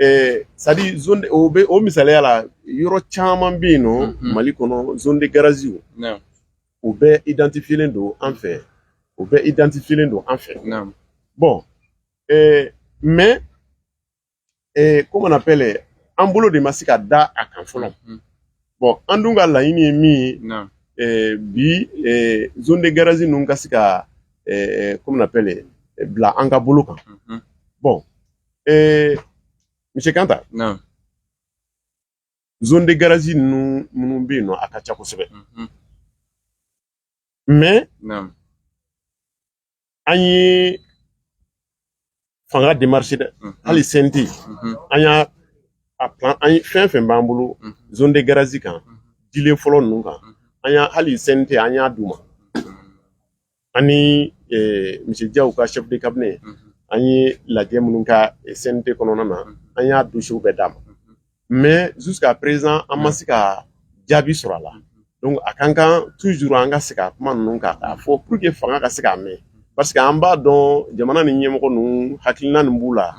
Eh, c'est-à-dire zone o bɛ o misaliya la yɔrɔ caman bɛ yen nɔ mhm. mali kɔnɔ zone de garaziw u bɛɛ identifielen don an fɛ u bɛɛ identifielen don an fɛ bon eh, mais ee comment on appelle an bolo de ma se ka da a kan fɔlɔ mm-hmm. bon an dun ka laɲini ye min ye eh, bi eh, zone de garage ninnu ka se ka eh, comment on appelle bila an ka bolo kan mm-hmm. bon monsieur Kanta zone de garage ninnu minnu bɛ yen nɔ a ka ca kosɛbɛ mais an ye fanga démarché dɛ hali CNT an y'a a plan an ye fɛn fɛn b'an bolo zone de garazi kan dilen fɔlɔ ninnu kan an y'a hali CNT an y'a d'u ma ani monsieur Diaw ka chef de cabinet an ye lajɛ minnu kɛ CNT kɔnɔna na an y'a dossierw bɛɛ d'a ma mais jusqu'à présent an ma se ka jaabi sɔrɔ a la donc a ka kan toujours an ka se ka kuma ninnu kan k'a fɔ pour que fanga ka se k'a mɛn parce que an b'a dɔn jamana ni ɲɛmɔgɔ ninnu hakilina nin b'u la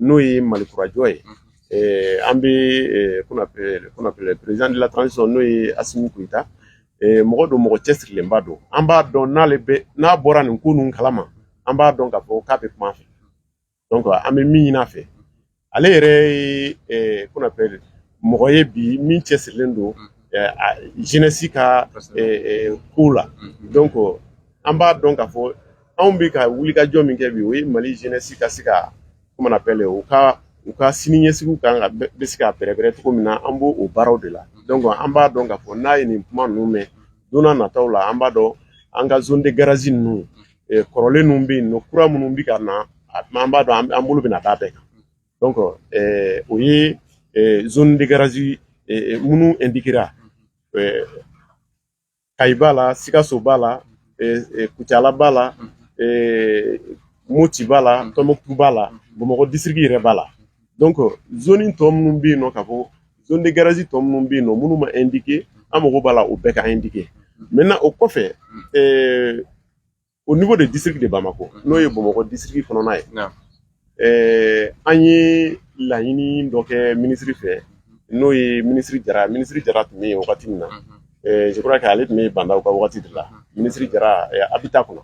n'o ye mali kurajɔ ye an bɛ président de la transition n'o ye Assimi Goïta mɔgɔ don mɔgɔ cɛsirilenba don an b'a dɔn n'ale n'a bɔra nin ko ninnu kalama an b'a dɔn k'a fɔ k'a tɛ kuma fɛ donc an bɛ min ɲini a fɛ ale yɛrɛ ye eh, qu'on appelle mɔgɔ ye bi min cɛsirilen don eh, a- jeunesse ka eh, eh, ko la donc an b'a dɔn k'a fɔ anw bɛ ka wulikajɔ min kɛ bi o ye mali jeunesse ka se ka comment on appelle u ka u ka siniɲɛsigiw kan ka bɛ bɛ se ka bɛrɛbɛrɛ cogo min na an b'o o baaraw de la donc an b'a dɔn k'a fɔ n'a ye nin kuma ninnu mɛn don na- nataw la an b'a dɔn an ka zone de garage ninnu eh, kɔrɔlen ninnu bɛ yen nɔ kura minnu bɛ ka na a- an b'a dɔn an- an bolo bɛna d'a bɛɛ kan donc eh, o ye eh, zone de garage eh, eh, minnu indiquera eh, kayi b'a la sikaso b'a la eh, eh, kucala b'a la eh, moti b'a la tɔnbɔkutu b'a la bamakɔ disiriki yɛrɛ b'a la donc zone tɔ minnu bɛ yen nɔ k'a fɔ zone de garage tɔ minnu bɛ yen nɔ minnu ma indiqué an mago b'a la o bɛɛ ka indiqué maintenant o kɔfɛ ɛɛ au niveau de district de Bamako n'o ye Bamakɔ district kɔnɔna ye ɛɛ an ye laɲini dɔ kɛ minisiri fɛ n'o ye minisiri Jara minisiri Jara tun bɛ yen wagati min na ɛɛ je crois que ale tun bɛ Ba Ndaw ka wagati de la minisiri Jara Habitat kɔnɔ.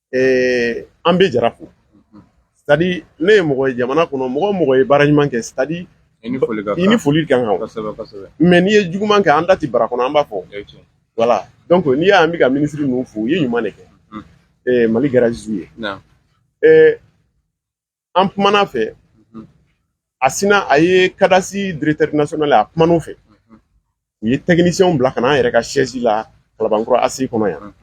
eh, an bɛ jara fo c'est-à-dire ne ye mɔgɔ ye jamana kɔnɔ mɔgɔ mɔgɔ ye baara ɲuman kɛ c'est-à-dire i ni foli ka kan mais n'i ye juguman kɛ an da tɛ bara kɔnɔ an b'a fɔ voilà donc n'i y'an bɛ ka minisiri ninnu fo u ye ɲuman de kɛ eh, mali garazisiw ye eh, an kuman'a fɛ a sinna a ye kadasi directeur national a kuman'o fɛ u ye techniciens bila ka na an yɛrɛ ka siège la kalabankura ACI kɔnɔ yan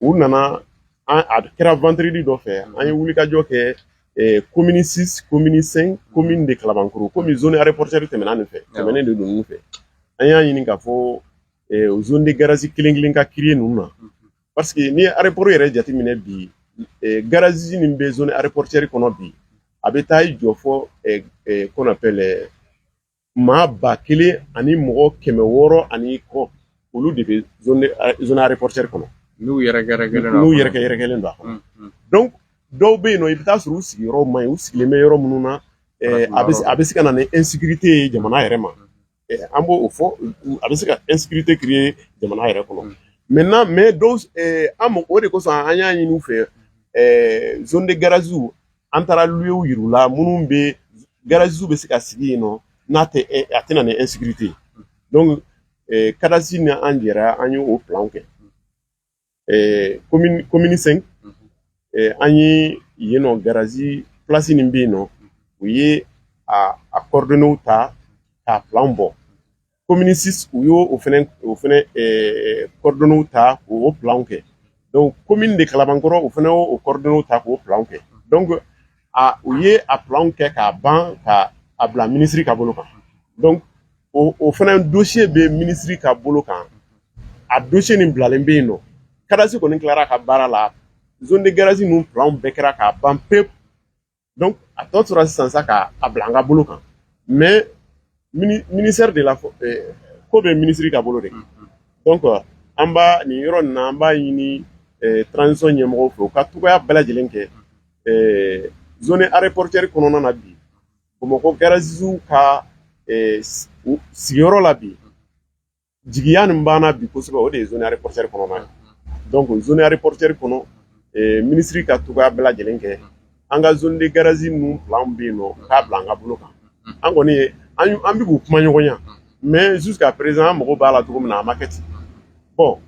u nana an a kɛra vendredi dɔ fɛ an ye wulikajɔ kɛ eh, commune 6 commune 5 commune de kalabankɔrɔ komi zone aéroportuaire tɛmɛna nin fɛ tɛmɛnen de don ninnu fɛ an y'a ɲini k'a fɔ eh, zone de garage kelen kelen ka créer ninnu na parce que n'i ye aéroport yɛrɛ jateminɛ bi garage min bɛ zone aéroportuaire kɔnɔ bi a bɛ taa i jɔ fɔ qu'on appelle maa ba kelen ani mɔgɔ kɛmɛ wɔɔrɔ ani kɔ olu de bɛ zone aéroportuaire kɔnɔ n'u yɛrɛ n'u yɛrɛ yɛrɛkɛlen don a kɔnɔ donc dɔw bɛ yen nɔ i bɛ taa sɔrɔ u sigiyɔrɔ man ɲi u sigilen bɛ yɔrɔ minnu na a bɛ se ka na ni insécurité ye jamana yɛrɛ ma An b' o fɔ a bɛ se ka espte ki ye jamana yɛrɛ kɔnɔ mɛ n' mɛ an ma o de ko an y'a ɲini fɛ zdi garanzsiw an taara lu y la minnu bɛ garanzsiw bɛ se ka sigi yen nɔn n'a tɛ a tɛna ni ete yen kadsi ni an jɛra an y ye oo kɛ eh, commune commune 5 mhm. eh, an ye yen nɔ garazi place nin bɛ yen nɔ u ye a a coordonnew ta k'a plan bɔ commune 6 u y'o o fɛnɛ o fɛnɛ eh, coordonnew ta k'o plan kɛ donc commune de kalabankɔrɔ u fɛnɛ y'o coordonnew ta k'o plan kɛ donc a u ye a plan kɛ k'a ban ka a bila minisiri ka bolo kan donc o o fana dosiye bɛ minisiri ka bolo kan a dosiye nin bilalen bɛ yen nɔ kadasi kɔni tilara ka baara la zone de garage ninnu planw bɛɛ kɛra k'a ban pewu donc a tɔ tora sisan sa ka a bila an ka bolo kan mais ministère de la ko bɛ minisiri ka bolo de kan donc an b'a nin yɔrɔ nin na an b'a ɲini transition ɲɛmɔgɔw fɛ u ka cogoya bɛɛ lajɛlen kɛ zone aéroportuaire kɔnɔna na bi Bamakɔ garaziw ka sigiyɔrɔ la bi jigiya min b'an na bi kosɛbɛ o de ye zone aéroportuaire kɔnɔna ye donc zone aéroportuaire kɔnɔ minisiri ka cogoya bɛɛ lajɛlen kɛ an ka zone de garage ninnu plan bɛ yen nɔ k'a bila an ka bolo kan an kɔni ye an bɛ k'u kumaɲɔgɔnya mais jusqu'à présent an mago b'a la cogo min na a ma kɛ ten bon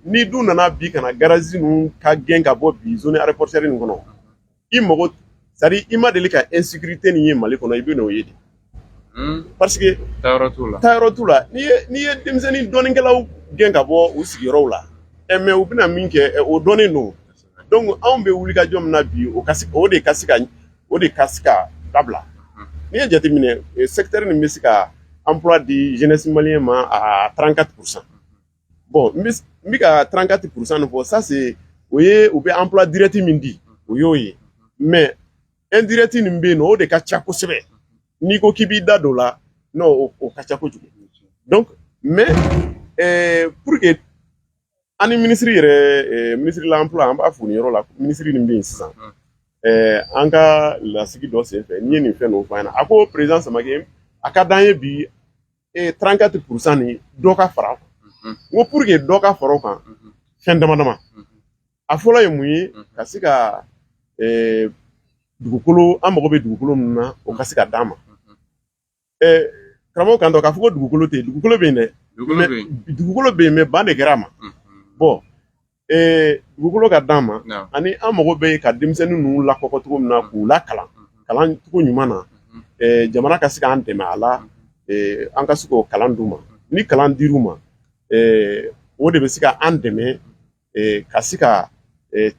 n'i dun nana bi ka na garage ninnu ka gɛn ka bɔ bi zone aéroportuaire nin kɔnɔ i mago c'est-à-dire i ma deli ka insécurité min ye mali kɔnɔ i bɛn'o ye de hmm. parce que taayɔrɔ t'u la taayɔrɔ t'u la n'i ye n'i ye denmisɛnnin dɔnnikɛlaw gɛn ka bɔ u sigiyɔrɔw la ɛ mais u bɛna min kɛ o dɔnnen don donc anw bɛ wulikajɔ min na bi o ka se o de ka se ka o de ka se ka dabila hmm. n'i ye jateminɛ sɛkitɛri nin bɛ se ka emploi di jeunesse malien ma à 34 pourcent bon n bɛ ka 34 pourcent de fɔ ça c'est o ye u bɛ emploi direct min di o y'o ye mais indirect nin bɛ yen nɔ o de ka ca kosɛbɛ n'i ko k'i b'i da don o la non o, o ka ca kojugu donc mais eh, pour que an ni minisiri yɛrɛ eh, minisiri de l'emploi an b'a fo nin yɔrɔ la minisiri nin bɛ yen sisan eh, an ka lasigi dɔ senfɛ n'i ye nin fɛn ninnu fɔ an ɲɛna a ko président samake a ka d'an ye bi ee 34 pourcent nin dɔ ka fara kan n ko pour que dɔ ka fara o kan fɛn dama dama a fɔlɔ ye mun ye ka se ka dugukolo an mago bɛ dugukolo min na o ka se ka d'an ma karamɔgɔ kan dɔ k'a fɔ ko dugukolo tɛ yen dugukolo bɛ yen dɛ dugukolo bɛ yen mais ban de kɛra a ma bon dugukolo ka d'an ma ani an mago bɛ ka denmisɛnnin ninnu lakɔgɔ cogo min na k'u lakalan kalancogo ɲuman na jamana ka se k'an dɛmɛ a la an ka se k'o kalan di u ma ni kalan dira u ma o de bɛ se ka an dɛmɛ ka se ka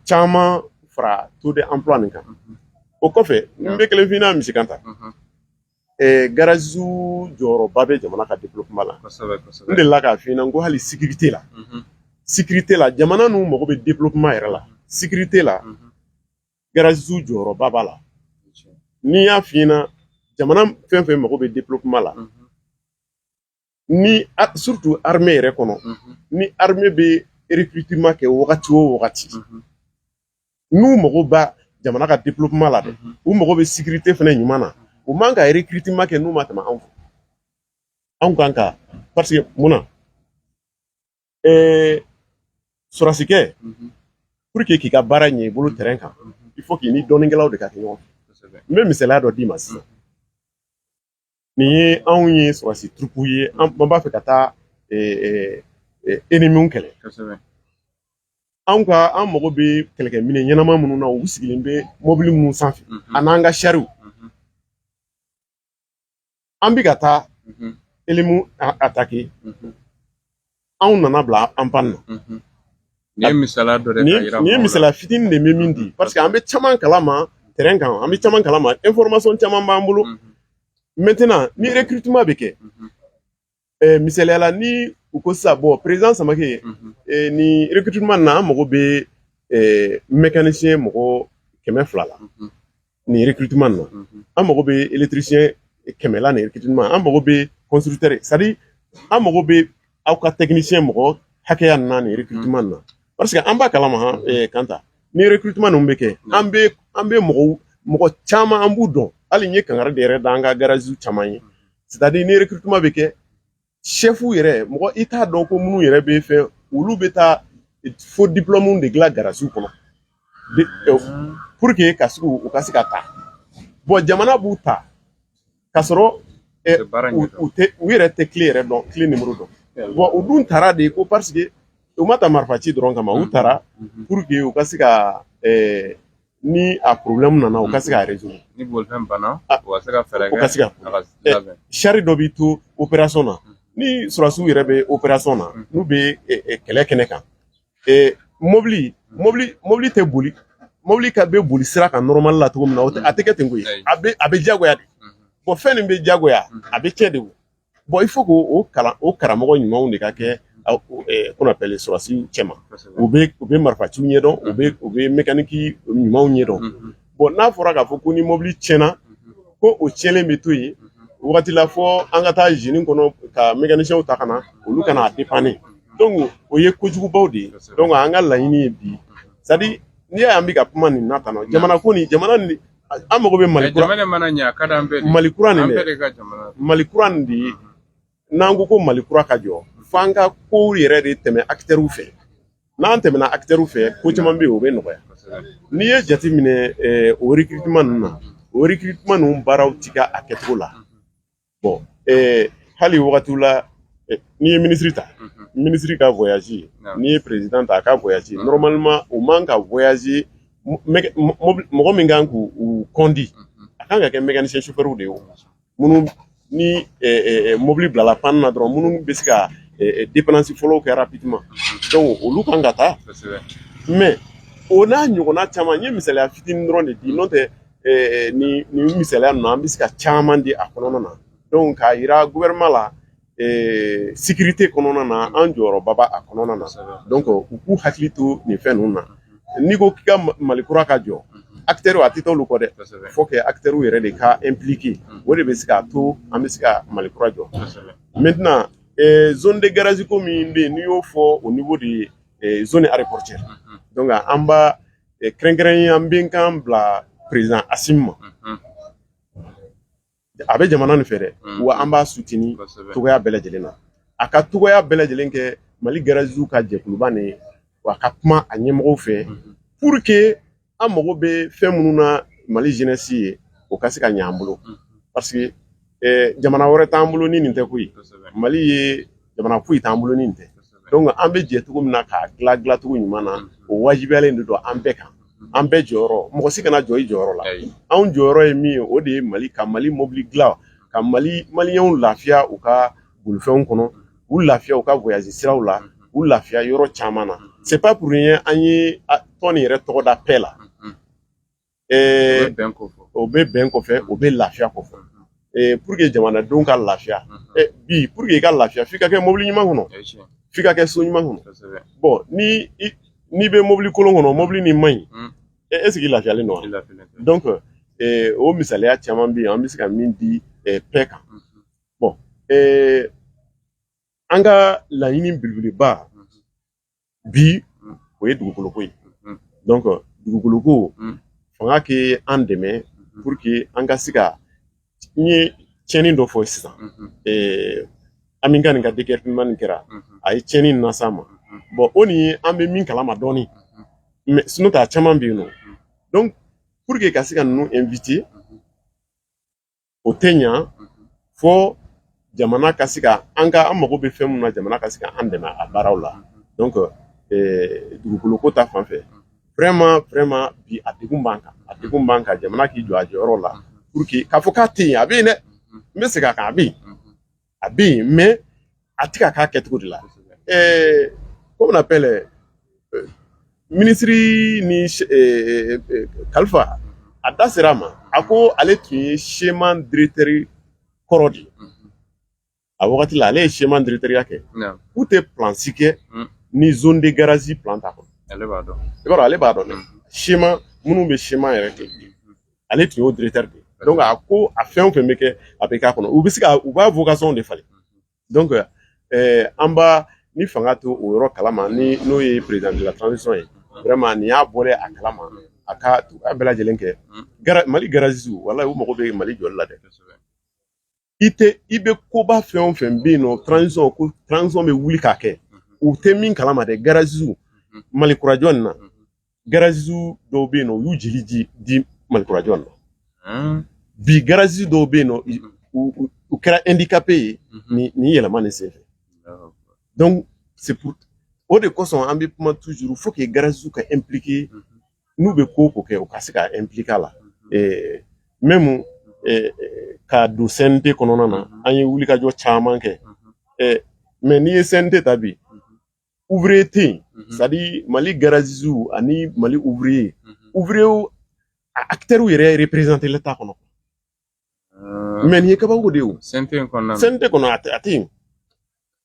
caman fara taux d'emploi nin kan o kɔfɛ n bɛ kelen f'i ɲɛna monsieur kanta gariz jɔyɔrɔba bɛ jamana ka di kuma la n de la k'a fɔ ɲɛna ko hali sigi tɛ la si tɛ la jamana n mago bɛ di kuma yɛrɛ la si tɛ la gariz jɔyɔrɔba b'a la n'i y'a fɔ i ɲɛna jamana fɛn fɛn mago bɛ di kuma la ni surtout armée yɛrɛ kɔnɔ ni armée bɛ recrutement kɛ wagati o wagati n'u mago b'a jamana ka développement la dɛ u mago bɛ sécurité fana ɲuman na u man ka recrutement kɛ n'u ma tɛmɛ anw fɛ anw kan ka parce que mun na ɛɛ sɔrɔsikɛ pour que k'i ka baara ɲɛ i bolo terrain kan il faut k'i ni dɔnnikɛlaw de ka kɛ ɲɔgɔn fɛ n bɛ misaliya dɔ d'i ma sisan nin ye anw ye sɔrɔsi turupu ye an b'a fɛ ka taa enemiw kɛlɛ anw ka an mago bɛ kɛlɛkɛminɛn ɲɛnama minnu na u sigilen bɛ mɔbili minnu sanfɛ mhm. ani n'an ka sariw mhm. an bɛ ka taa mhm. enemiw atake anw nana bila en panne na nin ye misaliya fitinin de bɛ min di parce que an bɛ caman kalama terrain kan an bɛ caman kalama information caman b'an bolo maintenant ni recrutement bɛ kɛ misaliya la ni u ko sisan bon président samake nin recrutement na an mago bɛ mécanicien mɔgɔ kɛmɛ fila la nin yirikituman na an mago bɛ eletirisiyɛn kɛmɛla nin yirikituman an mago bɛ kɔnsutɛri sadi an mago bɛ aw ka tɛkinisiyɛn mɔgɔ hakɛya na nin yirikituman na parce que an b'a kalama kanta ni yirikituman ninnu bɛ kɛ an bɛ an bɛ mɔgɔw mɔgɔ caman an b'u dɔn hali ye kanga de yɛrɛ da an ka gariz caman ye sitadi ni yɛrɛkituman bɛ kɛ sɛfu yɛrɛ mɔgɔ i t'a dɔn ko minnu yɛrɛ b'i fɛ olu bɛ taa fo diplɔmu de dilan garaziw kɔnɔ pour que ka se u ka se ka ta bɔn jamana b'u ta k'a sɔrɔ u yɛrɛ tɛ kile yɛrɛ dɔn kile nimɔrɔ dɔn bɔn u dun tara de ko parce que u ma ta marifa ci dɔrɔn kama u tara pour que u ka se ka ni a problème nana u ka se k'a résoudre ni bolifɛn banna u ka se ka fɛɛrɛ kɛ u ka se k'a labɛn shari dɔ b'i to opération na ni sɔrɔdasiw yɛrɛ bɛ opération na n'u bɛ kɛlɛ kɛnɛ kan mobili mobili mobili tɛ boli mobili ka bɛ boli sira kan normal la cogo min na a tɛ kɛ ten koyi a bɛ a bɛ diyagoya de bɔn fɛn nin bɛ diyagoya a bɛ tiɲɛ de o Bon il faut que o kalan o karamɔgɔ ɲumanw de ka kɛ qu'on appelle sɔrɔdasiw cɛma u bɛ marifa ci ɲɛ dɔn u bɛ mekaniki ɲumanw ɲɛ dɔn bɔn n'a fɔra k'a fɔ ko ni mɔbili tiɲɛna ko o tiɲɛlen bɛ to yen waati la fo an ka taa izini kɔnɔ ka mekanisiyɛnw ta ka na olu ka n'a dépanner donc o ye kojugubaw de ye donc an ka laɲini ye bi sa n'i y'a ye an bɛ ka kuma nin na tan jamana ko nin jamana an mago bɛ mali kura jamana mana ɲɛ a ka d'an bɛɛ mali kura nin dɛ mali kura nin de ye n'an ko ko mali kura ka jɔ f'an ka kow yɛrɛ de tɛmɛ akitɛriw fɛ n'an tɛmɛna akitɛriw fɛ ko caman bɛ yen o bɛ nɔgɔya n'i ye jate minɛ o rekiritima ninnu na o rekiritima ninnu baaraw ti kɛ a kɛcogo la bɔn ee hali wagati la eh, n'i ye minisiri ta mhm. minisiri ka voyazi n'i ye perezidan ta a ka voyazi mhm. nɔrɔmalima u man ka voyazi mɔgɔ min kan k'u kɔndi mhm. a kan ka kɛ mɛkanisiyɛn sofɛriw de ye minnu ni eh, eh, mobili bilala pan na dɔrɔn minnu bɛ se ka depanansi fɔlɔw kɛ rapidement donc olu kan ka taa mais o n'a ɲɔgɔnna caman n ye misaliya fitinin dɔrɔn de di n'o tɛ ni ni misaliya ninnu an bɛ se ka caman di a kɔnɔna na dɔnku k'a jira gouvernement la sécurité kɔnɔna na an jɔyɔrɔba b'a a kɔnɔna na dɔnku u k'u hakili to nin fɛn ninnu na n'i ko k'i ka mali kura ka jɔ akitɛriw a tɛ taa olu kɔ dɛ faut que akitɛriw yɛrɛ de ka impliquer o de bɛ se k'a to an bɛ se ka mali kura jɔ maintenant zone de garazi ko min bɛ yen n'i y'o fɔ au niveau de zone aéroportuaire dɔnku an kɛrɛnkɛrɛn an b'an kan bila perezidan Asimi ma a bɛ jamana nin fɛ dɛ wa an b'a sutini cogoya bɛɛ lajɛlen na a ka cogoya bɛɛ lajɛlen kɛ mali garaziw ka jɛkuluba nin wa a ka kuma a ɲɛmɔgɔw fɛ pour que an mago bɛ fɛn minnu na mali jɛnɛsi ye o ka se ka ɲɛ an bolo parce jamana wɛrɛ t'an bolo ni nin tɛ koyi mali ye jamana foyi t'an bolo ni tɛ donc an bɛ jɛ cogo min na k'a dilan dilancogo ɲuman na o wajibiyalen de don an bɛɛ kan an bɛɛ jɔyɔrɔ mɔgɔ si kana jɔ i jɔyɔrɔ la anw jɔyɔrɔ ye min ye o de ye mali ka mali mobili dilan ka maliyɛnw lafiya u ka bolifɛnw kɔnɔ u lafiya u ka voyage siraw la u lafiya yɔrɔ caman na c'est pas pour rien an ye tɔn nin yɛrɛ tɔgɔ da paix la o bɛ bɛn kofɔ o bɛ lafiya kofɔ pour que jamanadenw ka lafiya bi pour que i ka lafiya f'i ka kɛ mobili ɲuman kɔnɔ f'i ka kɛ so ɲuman kɔnɔ bon ni i bɛ mobili kolon kɔnɔ mobili nin man ɲi est-ce que i lafiyalen don wa donc o misaliya caman bɛ yen an bɛ se ka min di paix kan bon an ka laɲini belebeleba bi o ye dugukolo ko ye donc dugukolo ko fanga kɛ an dɛmɛ pour que an ka se ka n ye tiɲɛni dɔ fɔ sisan an min ka nin ka déguerpissement nin kɛra a ye tiɲɛni in lase an ma bon o ni an bɛ min kalama dɔɔnin mais sinon a caman bɛ yen nɔ donc pour que ka se ka ninnu éviter o tɛ ɲa fɔ jamana ka se ka an ka an mago bɛ fɛn min na jamana ka se ka an dɛmɛ a baaraw la donc dugukolo ko ta fan fɛ vraiment vraiment bi a degun b'an kan a degun b'an kan jamana k'i jɔ a jɔyɔrɔ la pour que k'a fɔ k'a tɛ yen a bɛ yen dɛ n bɛ segin a kan a bɛ yen a bɛ yen mais a tɛ ka k'a kɛcogo de la ɛɛ comment on appelle euh, minisiri ni euh, euh, kalifa a da sera a ma a ko ale tun ye sema diretɛri kɔrɔ de ye a wagati la ale ye sema diretɛriya kɛ k'u tɛ plan si kɛ mm. ni zone de garage plan t'a kɔnɔ i b'a dɔn ale b'a dɔn dɛ sema minnu bɛ sema yɛrɛ kɛ ale tun y'o directeur de ye donc a ko a fɛn o fɛn bɛ kɛ a bɛ k'a kɔnɔ u bɛ se u b'a vocation de falen donc an b'a ni fanga t'o yɔrɔ kalama ni n'o ye président de la transition ye vraiment ni a bɔra a kalama a ka bɛɛ lajɛlen kɛ mali garaziw walayi u mago bɛ mali jɔli la dɛ i tɛ i bɛ koba fɛn o fɛn bɛ yen nɔ transition ko transition bɛ wuli k'a kɛ u tɛ min kalama dɛ garaziw mali kurajɔ nin na garaziw dɔw bɛ yen nɔ u y'u jeli di di mali kurajɔ nin na bi garazi dɔw bɛ yen nɔ u kɛra handicapé ye nin nin yɛlɛma nin senfɛ donc c'est pour o de kosɔn an bɛ kuma toujours faut que garaziw ka impliquer n'u bɛ ko ko kɛ u ka se ka impliquer a la ɛɛ même u ka don CNT kɔnɔna na an ye wulikajɔ caman kɛ ɛɛ mais n'i ye CNT ta bi ouvrier tɛ yen c'est à dire Mali garagistew ani Mali ouvrier ouvriers a acteurs yɛrɛ représenter la t'a kɔnɔ mais nin ye kabako de ye o CNT kɔnɔ a tɛ yen.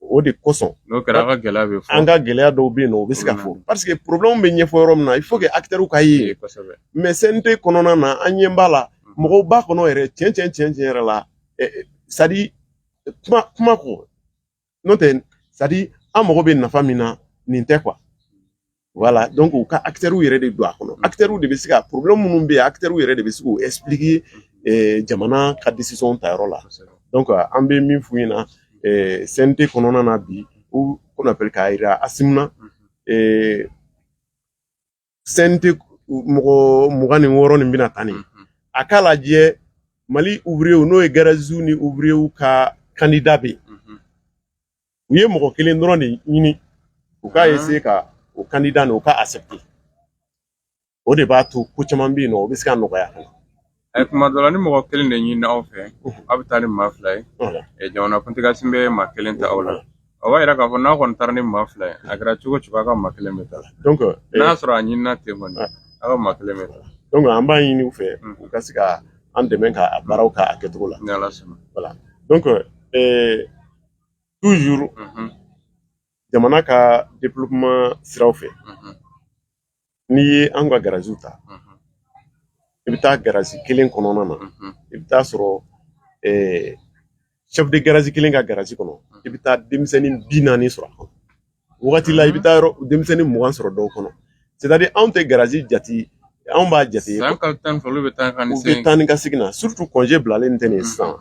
o de kosɔn n'o kɛra an ka gɛlɛya bɛ fɔ an ka gɛlɛya dɔw bɛ yen nɔ o bɛ se ka fɔ parce que problèmew bɛ ɲɛfɔ yɔrɔ min na il faut que acteurw ka ye mais CNT kɔnɔna na an ɲɛ b'a la mɔgɔw b'a kɔnɔ yɛrɛ tiɲɛ tiɲɛ tiɲɛ tiɲɛ yɛrɛ la c'est à dire kuma kuma ko n'o tɛ c'est à dire an mago bɛ nafa min na nin tɛ quoi voilà donc u ka acteurw yɛrɛ de don a kɔnɔ acteurw de bɛ se ka problème minnu bɛ yen acteurw yɛrɛ de bɛ se k'u expliquer eh, jamana ka décision ta yɔrɔ la donc an bɛ min f'u ɲɛna eh, CNT kɔnɔna na bi u qu'on appelle k'a jira Assimi na eh, CNT mɔgɔ mugan ni wɔɔrɔ nin bɛna taa nin a k'a lajɛ Mali ouvrierw n'o ye garaziw ni ouvrierw ka candidat bɛ yen u ye mɔgɔ kelen dɔrɔn de ɲini u ka essayer ka o candidat nin u ka accepter o de b'a to ko caman bɛ yen nɔ o bɛ se ka nɔgɔya kan eh, kuma dɔ la ni mɔgɔ kelen de ɲini aw fɛ aw bɛ taa ni maa fila ye eh, jamanakuntigi Assimi bɛ maa kelen ta aw la o b'a yira k'a fɔ n'a kɔni taara ni maa fila ye a kɛra cogo cogo a ka maa kelen bɛ ta eh, n'a sɔrɔ a ɲinina ten kɔni ah. a ka maa kelen bɛ ta donc an b'a ɲini u fɛ mm. u ka se ka an dɛmɛ ka a baaraw ka a kɛcogo la donc toujours jamana ka développement siraw fɛ n'i ye an ka garaziw ta i bɛ taa garazi kelen kɔnɔna na i bɛ taa sɔrɔ chef de garage kelen ka garazi kɔnɔ i bɛ taa denmisɛnnin bi naani sɔrɔ a kɔnɔ wagati la i bɛ taa yɔrɔ denmisɛnnin mugan sɔrɔ dɔw kɔnɔ c'est à dire anw tɛ garazi jate anw b'a jate u bɛ taa ni ka segin na surtout congé bilalen tɛ nin sisan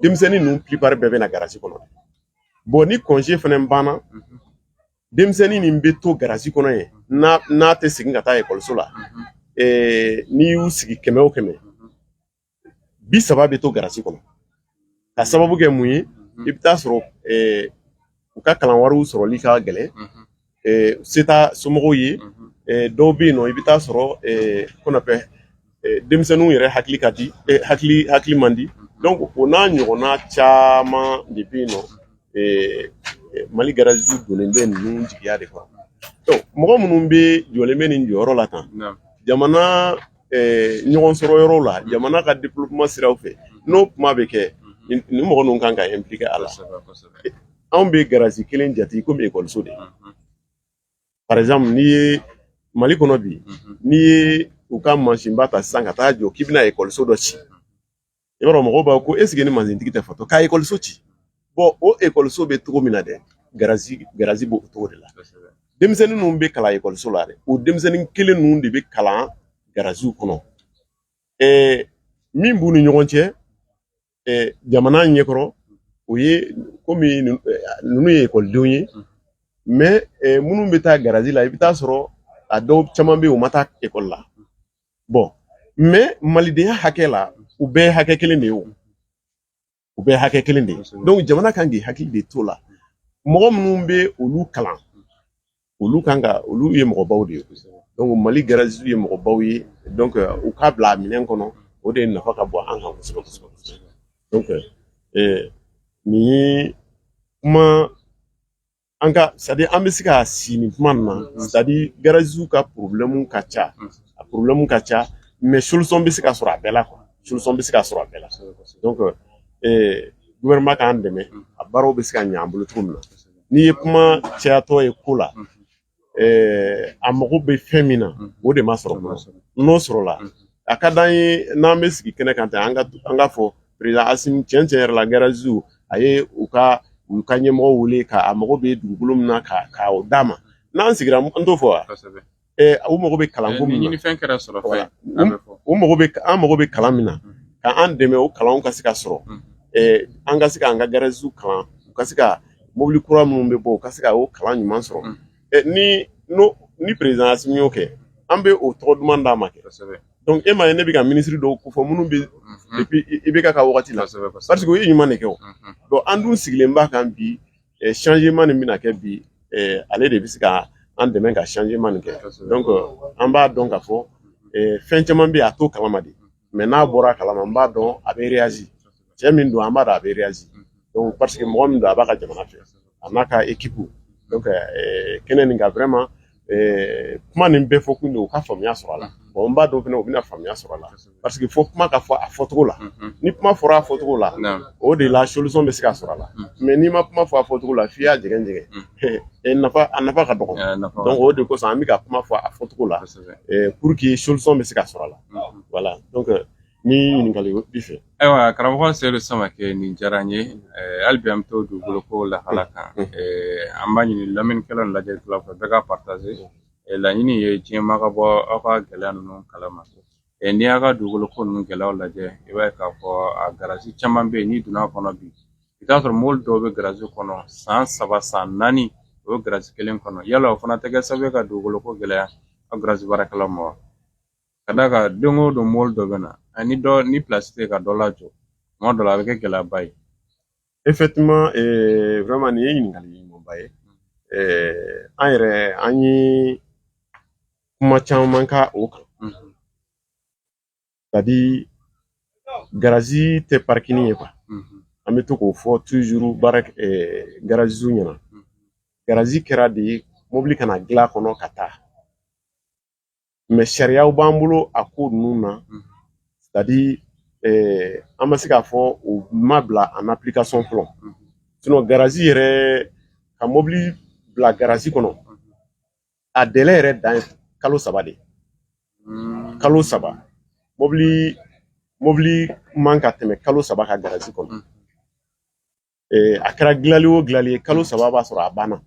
denmisɛnnin ninnu plupart bɛɛ bɛ na garasi kɔnɔ bon ni congé fana banna denmisɛnnin nin bɛ to garasi kɔnɔ yen n'a n'a tɛ segin ka taa ekɔliso la eh, n'i y'u sigi kɛmɛ o kɛmɛ bi saba bɛ to garasi kɔnɔ ka sababu kɛ mun ye i bɛ taa sɔrɔ eh, u ka kalan wariw sɔrɔli ka gɛlɛn se t'a somɔgɔw ye dɔw bɛ yen nɔ i bɛ taa sɔrɔ qu'on appelle denmisɛnninw yɛrɛ hakili ka di hakili hakili man di donc o n'a ɲɔgɔnna caman de bɛ yen nɔ Mali garaziw donnen bɛ ninnu jigiya de kɔrɔ mɔgɔ minnu bɛ jɔlen bɛ nin jɔyɔrɔ la tan jamana ɲɔgɔn sɔrɔ yɔrɔw la jamana ka développement siraw fɛ n'o kuma bɛ kɛ nin mɔgɔ ninnu kan ka impliquer a la anw bɛ garasi kelen jate i komi ekɔliso de par exemple n'i ye mali kɔnɔ bi n'i ye i ka mansinba ta sisan ka taa jɔ k'i bɛna ekɔliso dɔ ci i b'a dɔn mɔgɔw b'a fɔ ko est-ce que nin mansintigi tɛ fatɔ ka ekɔliso ci bon o ekɔliso bɛ cogo min na dɛ garasi garasi b'o cogo de la denmisɛnnin ninnu bɛ kalan ekɔliso la dɛ o denmisɛnnin kelen ninnu de bɛ kalan garasiw kɔnɔ ɛɛ min b'u ni ɲɔgɔn cɛ jamana ɲɛkɔrɔ o ye komi ninnu ye ekɔlidenw ye mais minnu bɛ taa garasi la i bɛ taa sɔrɔ a dɔw caman bɛ yen u ma taa ekɔli la bon mais malidenya hakɛ la u bɛɛ hakɛ kelen de ye o u bɛɛ hakɛ kelen de ye donc jamana kan k'i hakili de to la mɔgɔ minnu bɛ olu kalan olu kan ka olu ye mɔgɔbaw de ye donc mali garazisiw ye mɔgɔbaw ye donc euh, u k'a bila a minɛn kɔnɔ o de nafa ka bon an kan kosɛbɛ kosɛbɛ kosɛbɛ donc euh, nin ye kuma an ka c'est-à-dire an bɛ se ka si nin kuma nin na c'est-à-dire garasiw ka problème ka ca a problème ka ca mais solution bɛ se ka sɔrɔ a bɛɛ la quoi solution bɛ se ka sɔrɔ a bɛɛ la donc euh, gouvernement k'an dɛmɛ a baaraw bɛ se ka ɲɛ an bolo cogo min na n'i ye kuma cayatɔ ye ko la eh, an mago bɛ fɛn min na o de ma sɔrɔ n'o sɔrɔla a ka di an ye n'an bɛ sigi kɛnɛ kan tan an ka fɔ président asimi tiɲɛ tiɲɛ yɛrɛ la garazisiw a ye u ka u ka ɲɛmɔgɔ wele ka a mago bɛ dugukolo min na ka o d'a ma n'an sigira an t'o fɔ wa u mago bɛ kalanko min na fɛn kɛra sɔrɔ u mago bɛ an mago bɛ kalan min na ka an dɛmɛ o kalanw ka se ka sɔrɔ an ka se k'an ka garazisiw kalan u ka se ka mobili kura minnu bɛ bɔ u ka se ka o kalan ɲuman sɔrɔ ni n'o ni président asimi y'o kɛ an bɛ o tɔgɔ duman d'a ma kɛ donc e m'a ye ne bɛ ka minisiri dɔw ko fɔ minnu bɛ depuis IBK ka waati la parce que u ye ɲuman de kɛ donc an dun sigilen b'a kan bi changement nin bɛna kɛ bi ale de bɛ se ka an dɛmɛ ka changement nin kɛ donc an b'a dɔn k'a fɔ fɛn caman bɛ yen a t'o kalama de mais n'a bɔra a kalama n b'a dɔn a bɛ réagir cɛ min don an b'a dɔn a bɛ réagir donc parce que mɔgɔ min don a b'a ka jamana fɛ a n'a ka équipe donc kɛnɛ nin kan vraiment ɛɛ kuma nin bɛɛ fɔ kun de u ka faamuya sɔrɔ a la bon n b'a dɔn fana u bɛna faamuya sɔrɔ a la parce que fo kuma ka fɔ a fɔcogo la ni kuma fɔra a fɔcogo la o de la solution bɛ se ka sɔrɔ a la mais n'i ma kuma fɔ a fɔcogo la f'i y'a jɛgɛn jɛgɛn a nafa ka dɔgɔ donc o de kosɔn an bɛ ka kuma fɔ a fɔcogo la pour que solution bɛ se ka sɔrɔ a la voilà donc Ni ɲininkali b'i fɛ ayiwa karamɔgɔ Seyidu Samakɛ nin diyara n ye hali bi an bɛ to dugukolo ko lahala kan an b'a ɲini lamɛnnikɛlaw ni lajɛlikɛlaw fɛ bɛɛ ka partaze laɲini ye diɲɛmaa ka bɔ aw ka gɛlɛya ninnu kalama n'i y'a ka dugukolo ko ninnu gɛlɛyaw lajɛ i b'a ye k'a fɔ a garasi caman bɛ yen n'i donna a kɔnɔ bi i t'a sɔrɔ mobili dɔw bɛ garasi kɔnɔ san saba san naani o bɛ garasi kelen kɔnɔ yala o fana tɛ kɛ sababu ye ka dugukolo ko gɛlɛya aw garasi baarakɛlaw ma wa Ka d'a kan don o don mɔbili dɔ bɛ na ani dɔ ni pilasi tɛ ka dɔ lajɔ tuma dɔ la a bɛ kɛ gɛlɛyaba ye effectivement eh, vraiment nin ye ɲininkali ɲumanba ye eh, an yɛrɛ an ye kuma caman ka o kan Mhm. c'est à dire garazi tɛ parikini ye quoi Mhm. an bɛ to k'o fɔ tuzuru baara eh, garaziw ɲɛna Mhm. garazi kɛra de mobili ka na dilan a kɔnɔ ka taa mɛ sariyaw b'an bolo a ko ninnu na c'est à dire an ma se k'a fɔ o ma bila en application fɔlɔ sinon garazi yɛrɛ ka mɔbili bila garazi kɔnɔ a dɛlɛ yɛrɛ dan kalo saba de kalo saba mɔbili mɔbili man ka tɛmɛ kalo saba kan garazi kɔnɔ a kɛra gilali o gilali ye kalo saba b'a sɔrɔ a banna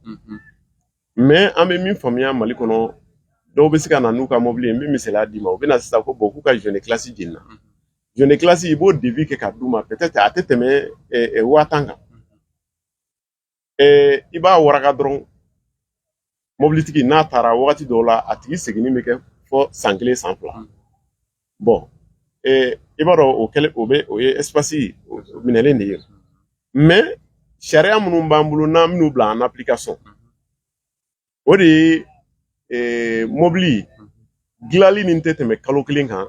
mɛ an bɛ min faamuya mali kɔnɔ dɔw bɛ se ka na n'u ka mɔbili ye n bɛ misaliya d'i ma u bɛ na sisan ko bɔn k'u ka joint de culasse jenina joint de culasse i b'o devis kɛ ka d'u ma peut-être a tɛ tɛmɛ waa tan kan i b'a waraka dɔrɔn mɔbilitigi n'a taara wagati dɔw la a tigi seginni bɛ kɛ fɔ san kelen san fila bɔn i b'a dɔn o kɛlen o bɛ o ye espasi minɛlen de ye mɛ sariya minnu b'an bolo n'an bɛn'u bila en application o de ye mɔbili dilanli min tɛ tɛmɛ kalo kelen kan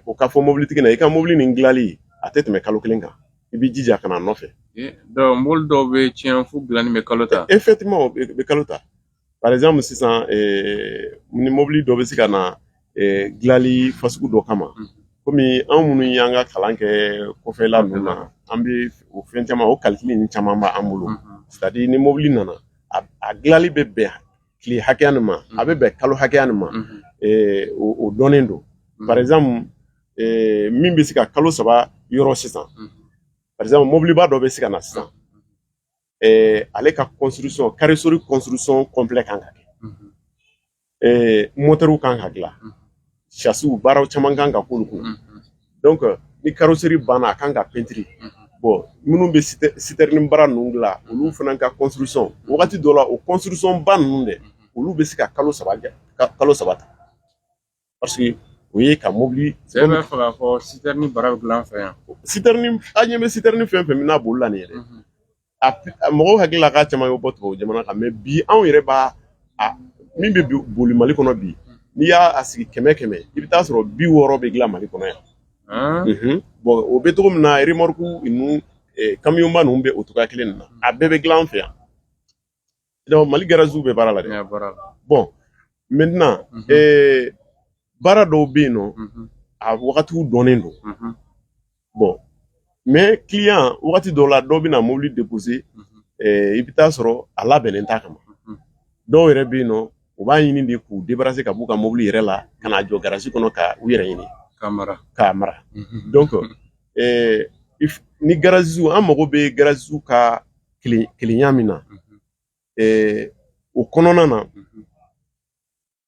o ka fɔ mobilitigi na i ka mobili nin dilanli a tɛ tɛmɛ kalo kelen kan i b'i jija ka na nɔfɛ donc mobili dɔw bɛ tiɲɛ fo dilanni bɛ kalo ta effectivement o bɛ kalo ta par exemple sisan ni mobili dɔ bɛ se ka na dilanli fasugu dɔ kama komi anw minnu y'an ka kalan kɛ kɔfɛla ninnu na an bɛ o fɛn caman o kalikili ninnu caman b'an bolo c'est à dire ni mobili nana a dilanli bɛ bɛn tile hakɛya nin ma a bɛ bɛn kalo hakɛya nin ma o dɔnnen don par exemple min bɛ se ka kalo saba yɔrɔ sisan par exemple mɔbiliba dɔ bɛ se ka na sisan ale ka construction carrosserie construction complet kan ka kɛ mɔtɛriw kan ka dilan sasiw baaraw caman kan ka k'olu kun donc ni karoseri banna a kan ka pentiri bɔn minnu bɛ sitɛrini baara ninnu dilan olu fana ka construction wagati dɔ la o construction ba ninnu dɛ olu bɛ se ka kalo saba kɛ kalo saba ta parce que o ye ka mobili cɛ bɛ fɛ k'a fɔ sitɛrini baara bɛ dilan an fɛ yan sitɛrini an ɲɛ bɛ sitɛrini fɛn o fɛn min na boli la nin yɛrɛ mɔgɔw hakili la k'a caman bɛ bɔ tubabu jamana kan mɛ bi anw yɛrɛ b'a min bɛ boli mali kɔnɔ bi n'i y'a sigi kɛmɛ kɛmɛ i bɛ t'a sɔrɔ bi wɔɔrɔ bɛ dilan mali kɔnɔ yan bɔn o bɛ cogo min na eremɔriku ninnu kamiyɔnba ninnu bɛ o cogoya kelen na a bɛɛ bɛ dilan an fɛ yan mali garasiw bɛ baara la dɛ bɔn maintenant mhm. baara dɔw bɛ yen nɔ mhm. a wagatiw dɔnnen don mhm. bɔn mɛ kiliyan wagati dɔw la dɔ bɛ na mobili depose i bɛ taa sɔrɔ a labɛnnen t'a kama dɔw yɛrɛ bɛ yen nɔ u b'a ɲini de k'u debarase ka b'u ka mobili yɛrɛ la ka n'a jɔ garasi kɔnɔ ka u yɛrɛ ɲini k'a mara k'a mara donc ni garasiw an mago bɛ garasiw ka kelenya min na o kɔnɔna na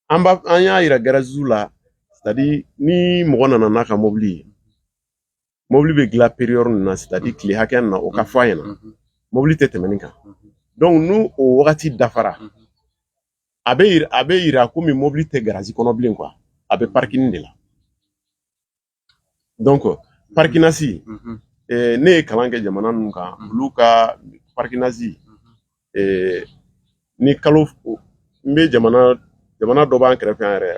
an b'a an y'a yira garaziw la c'est-à-dire ni mɔgɔ nana n'a ka mɔbili ye mɔbili bɛ dilan periyɔdi min na c'est-à-dire tile hakɛya na o ka fɔ a ɲɛna mɔbili tɛ tɛmɛ nin kan donc ni o wagati dafara a bɛ a bɛ yira komi mɔbili tɛ garazi kɔnɔ bilen quoi a bɛ parking de la donc parkinasi mhm. eh, ne ye kalan kɛ jamana ninnu kan mhm. olu ka parkinasi mhm. eh, ni kalo n bɛ jamana jamana dɔ b'an kɛrɛfɛ yan yɛrɛ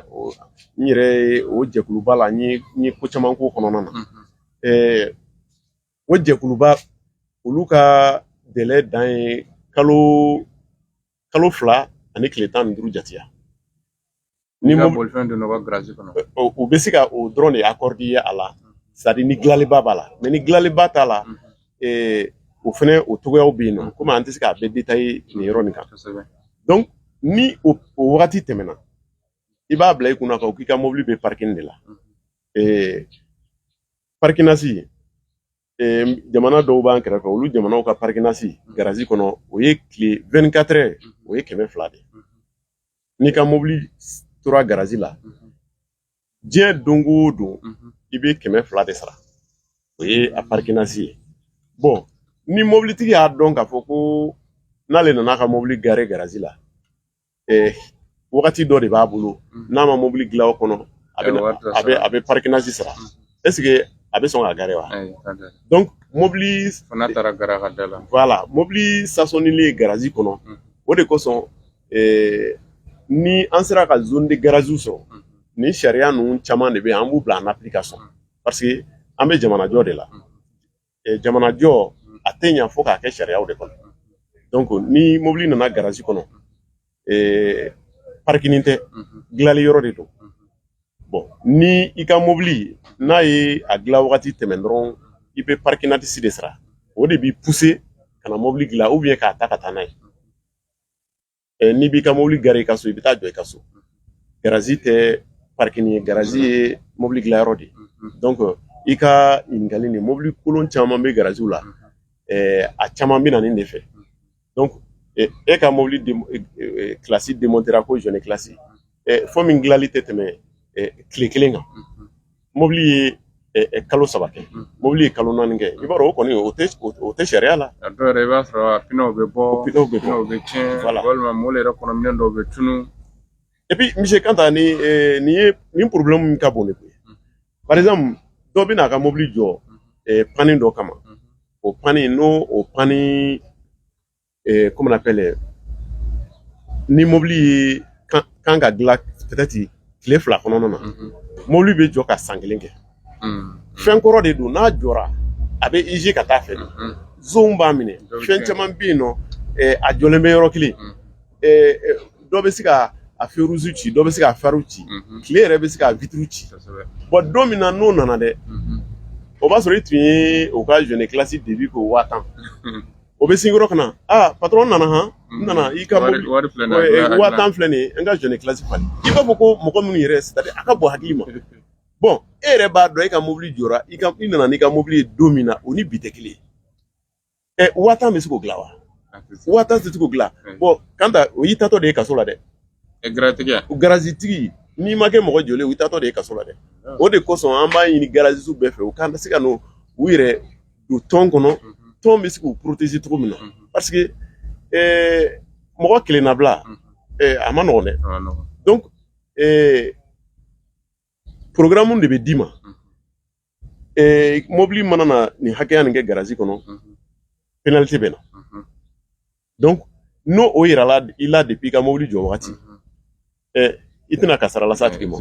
n yɛrɛ ye o jɛkuluba la n ye n ye ko caman k'o kɔnɔna na eh, o jɛkuluba olu ka delɛ dan ye kalo kalo fila ani tile tan ni duuru jateya ni bolifɛn donna ka garaji kɔnɔ u bɛ se ka o dɔrɔn de akɔrɔd'i ye a la sadi ni gilaliba b'a la mɛ ni gilaliba t'a la o fɛnɛ o cogoyaw bɛ yen nɔ komi an tɛ se k'a bɛɛ detaye nin yɔrɔ nin kan donc ni o wagati tɛmɛna i b'a bila i kunna kan k'i ka mobili bɛ parking de la parkinasi jamana dɔw b'an kɛrɛfɛ olu jamanaw ka parikinasi garazi kɔnɔ o ye tile vingt-quatre heures o ye kɛmɛ fila de n'i ka mobili tora garazi la diɲɛ don o don i bɛ kɛmɛ fila de sara o ye a parikinasi ye bɔn ni mobilitigi y'a dɔn k'a fɔ ko n'ale nana ka mobili gare garazi la wagati dɔ de b'a bolo mm. n'a ma mobili dilan o kɔnɔ a bɛ a bɛ a bɛ parikinasi sara mm. est ce que a bɛ sɔn ka gare wa donc mobili fana taara gare a ka da la voilà mobili sasɔnilen garazi kɔnɔ mm. o de kosɔn ni an sera ka zone de garaziw sɔrɔ nin sariya ninnu caman de bɛ yen an b'u bila en application parce que an bɛ jamanajɔ de la jamanajɔ a tɛ ɲa fo k'a kɛ sariyaw de kɔnɔ donc ni mobili nana garazi kɔnɔ parikini tɛ dilali yɔrɔ de don bɔn ni i ka mobili n'a ye a dila wagati tɛmɛn dɔrɔn i bɛ parikinatisi de sara o de b'i puse ka na mobili dilan ou bien k'a ta ka taa n'a ye n'i b'i ka mobili gare i ka so i bɛ taa jɔ i ka so garazi tɛ parikini ye garazi ye mobili dilanyɔrɔ de ye donc i ka ɲininkali nin mobili kolon caman bɛ garaziw la a caman bɛ na nin de fɛ donc e ka mobili culasse demontera ko joint culasse fɔ min dilanli tɛ tɛmɛ tile kelen kan mobili ye kalo saba kɛ mobili ye kalo naani kɛ i b'a dɔn o kɔni o tɛ sariya la a dɔw yɛrɛ i b'a sɔrɔ a pinɛw bɛ bɔ pinɛw bɛ tiɲɛ walima mobili yɛrɛ kɔnɔ minɛn dɔw bɛ tunun epi monsieur Kanta ni nin ye nin porobilɛmu min ka bon de koyi par exemple dɔ bɛ n'a ka mobili jɔ pani dɔ kama o pani n'o o pani eh, comment on appelle, eh, ni mobili ye kan ka dilan peut-être tile fila kɔnɔna na Mhm. mobili bɛ jɔ ka san kelen kɛ Mhm. fɛn kɔrɔ de don n'a jɔra a bɛ user ka taa fɛ de Mhm. zɔn b'a minɛ Dɔ bɛ tiɲɛ. fɛn caman bɛ yen nɔ eh, a jɔlen bɛ yɔrɔ kelen Mm. Eh, eh, dɔ bɛ se ka a feruzu ci dɔ bɛ se ka fariw ci Mhm. tile yɛrɛ bɛ se ka vitiriw ci Kosɛbɛ. bɔn don min na n'o nana dɛ Mhm. o b'a sɔrɔ i tun ye o ka joint culasse début ko waa tan o bɛ sin yɔrɔ ka na aa patɔrɔn nana han n nana i ka mobili wari filɛ nin ye waa tan filɛ nin ye n ka joint culasse falen i b'a fɔ ko mɔgɔ minnu yɛrɛ a ka bɔ hakili ma bɔn e yɛrɛ b'a dɔn e ka mobili jɔra i ka i nana n'i ka mobili ye don min na o ni bi tɛ kelen ye ɛ waa tan bɛ se k'o dilan wa waa tan tɛ se k'o dilan bɔn Kanta o y'i taatɔ de ye kaso la dɛ garatigi garazi tigi n'i ma kɛ mɔgɔ jɔlen o y'i taatɔ de ye kaso la dɛ o de kosɔn an b'a ɲini garazisiw bɛɛ fɛ u ka se ka n'u yɛrɛ don tɔn kɔnɔ tɔn bɛ se k'u poroteze cogo min na parce que mɔgɔ kelennabila a ma nɔgɔn dɛ donc porogaramu de bɛ d'i ma mobili mana na nin hakɛya nin kɛ garazi kɔnɔ penaliti bɛ na donc n'o o yirala i la depuis i ka mobili jɔ wagati i tɛna kasara lase a tigi ma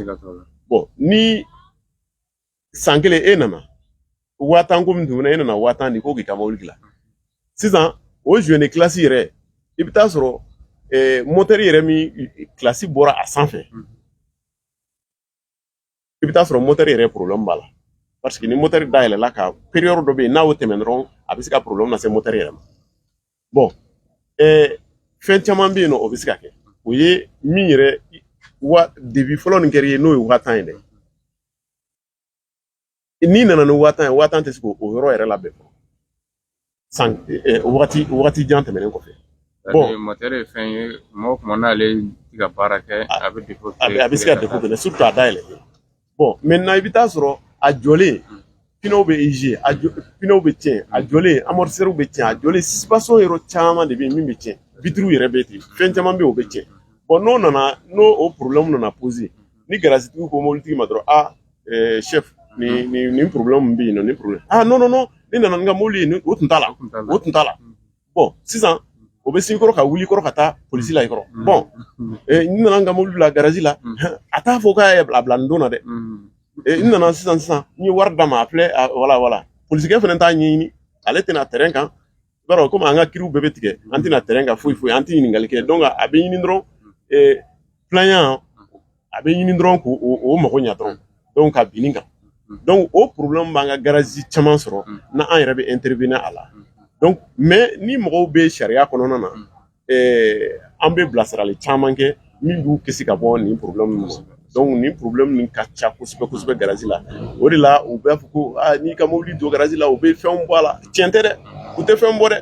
bon ni san kelen e nana waa tan ko min tun e nana waa tan di ko k'i ka mobili dilan sisan o zuwɛni kilasi yɛrɛ i bɛ taa sɔrɔ mɔtɛri yɛrɛ min kilasi bɔra a sanfɛ i bɛ taa sɔrɔ mɔtɛri yɛrɛ porobilɛmu b'a la paseke ni mɔtɛri dayɛlɛla ka periyɔdi dɔ bɛ yen n'a y'o tɛmɛn dɔrɔn a bɛ se ka porobilɛmu lase mɔtɛri yɛrɛ ma bɔn fɛn caman bɛ yen nɔ o bɛ se ka kɛ o ye min yɛrɛ wa devis fɔlɔ nin kɛra i ye n'o ye waa tan ye dɛ n'i nana ni waa tan ye waa tan tɛ se k'o yɔrɔ yɛrɛ labɛn fɔlɔ san wagati wagati jan tɛmɛnen kɔfɛ mɔtɛri ye fɛn ye tuma o tuma n'ale ti ka baara kɛ a bɛ a bɛ se ka defo kɛ surtu a dayɛlɛ bɔn mɛntɛnan i bɛ taa sɔrɔ a jɔlen pinew bɛ ize a pinew bɛ tiɲɛ a jɔlen amortisɛriw bɛ tiɲɛ a jɔlen sisipansiyɔn yɔrɔ caman de bɛ yen min bɛ tiɲɛ bitiriw yɛrɛ bɛ ten fɛn caman bɛ yen o bɛ tiɲɛ bɔn n'o nana n'o o porobilɛmu nana poze ni garazitigiw ko mobilitigi ma dɔrɔn a chef nin nin nin problème min bɛ yen nɔ nin problème ah non non non ne nana ni n ka mobili ye o tun t'a la o tun t'a la bɔn sisan o bɛ sin i kɔrɔ ka wuli i kɔrɔ ka taa polisi la i kɔrɔ bɔn n nana n ka mobili bila garazi la a t'a fɔ k'a ye a bila nin don na dɛ n nana sisan sisan n ye wari d'a ma a filɛ wala wala polisikɛ fana t'a ɲɛɲini ale tɛ na tɛrɛn kan i b'a dɔn komi an ka kiriw bɛɛ bɛ tigɛ an tɛ na tɛrɛn kan foyi foyi an tɛ ɲininkali kɛ donc a bɛ ɲini dɔrɔn plaignant a bɛ ɲini dɔrɔn k'o o mago ɲa dɔrɔn donc ka bin i kan donc o problème b'an ka garazi caman sɔrɔ n'an yɛrɛ bɛ intervenir a la donc mais ni mɔgɔw bɛ sariya kɔnɔna na an bɛ bilasirali caman kɛ min b'u kisi ka bɔ nin porobilɛmu ma dɔnku nin porobilɛmu nin ka ca kosɛbɛ kosɛbɛ garazi la o de la u b'a fɔ ko n'i ka mobili don garazi la u bɛ fɛn bɔ a la tiɲɛ tɛ dɛ u tɛ fɛn bɔ dɛ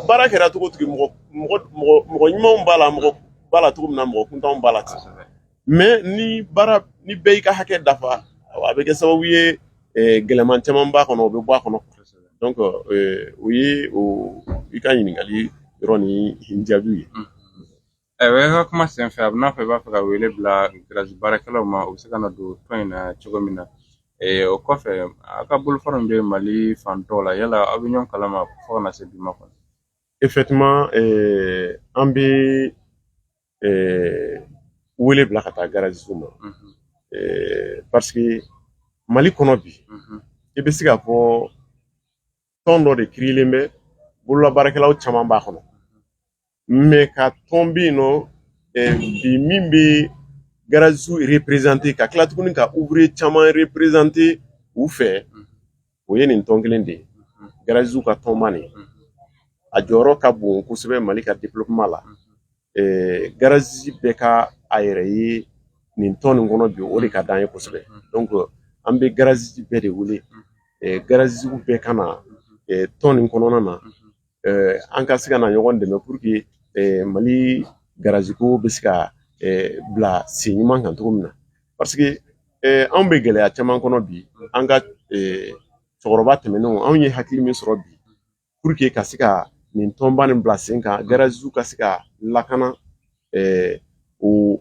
baara kɛra cogo mɔgɔ ɲumanw b'a la mɔgɔ b'a la cogo min na mɔgɔ kuntanw b'a la ten mɛ ni baara ni bɛɛ y'i ka hakɛ dafa a bɛ kɛ sababu ye gɛlɛman caman b'a kɔnɔ o bɛ bɔ a kɔnɔ dɔnku o ye i ka ɲininkali yɔrɔ nin jaabiw ye ɛɛ i ka kuma senfɛ a bɛ n'a fɔ i b'a fɛ ka wele bila garazi baarakɛlaw ma u bɛ se ka na don tɔn in na cogo min na o kɔfɛ a ka bolofara min bɛ mali fan tɔw la yala aw bɛ ɲɔgɔn kalama fo ka na se bi ma kɔni effectivement an bɛ wele bila ka taa garazisiw ma paseke mali kɔnɔ bi i bɛ se ka fɔ tɔn dɔ de kirilen bɛ bololabaarakɛlaw caman b'a kɔnɔ mɛ an ka tɔn bɛ yen nɔ bi min bɛ garazisi reprezante ka kila tuguni ka uvriye caman reprezante u fɛ o ye nin tɔn kelen de ye garazisiw ka tɔnba nin a jɔyɔrɔ ka bon kosɛbɛ mali ka développement la garazisi bɛɛ ka a yɛrɛ ye nin tɔn nin kɔnɔ bi o de ka d'an ye kosɛbɛ donc an bɛ garazisi bɛɛ de wele garazisi bɛɛ ka na tɔn nin kɔnɔna na an ka se ka na ɲɔgɔn dɛmɛ pour que mali garaziko bɛ se ka bila sen ɲuman kan cogo min na paseke anw bɛ gɛlɛya caman kɔnɔ bi an ka cɛkɔrɔba tɛmɛnenw anw ye hakili min sɔrɔ bi pour que ka se ka nin tɔnba nin bila sen kan garaziw ka se ka lakana o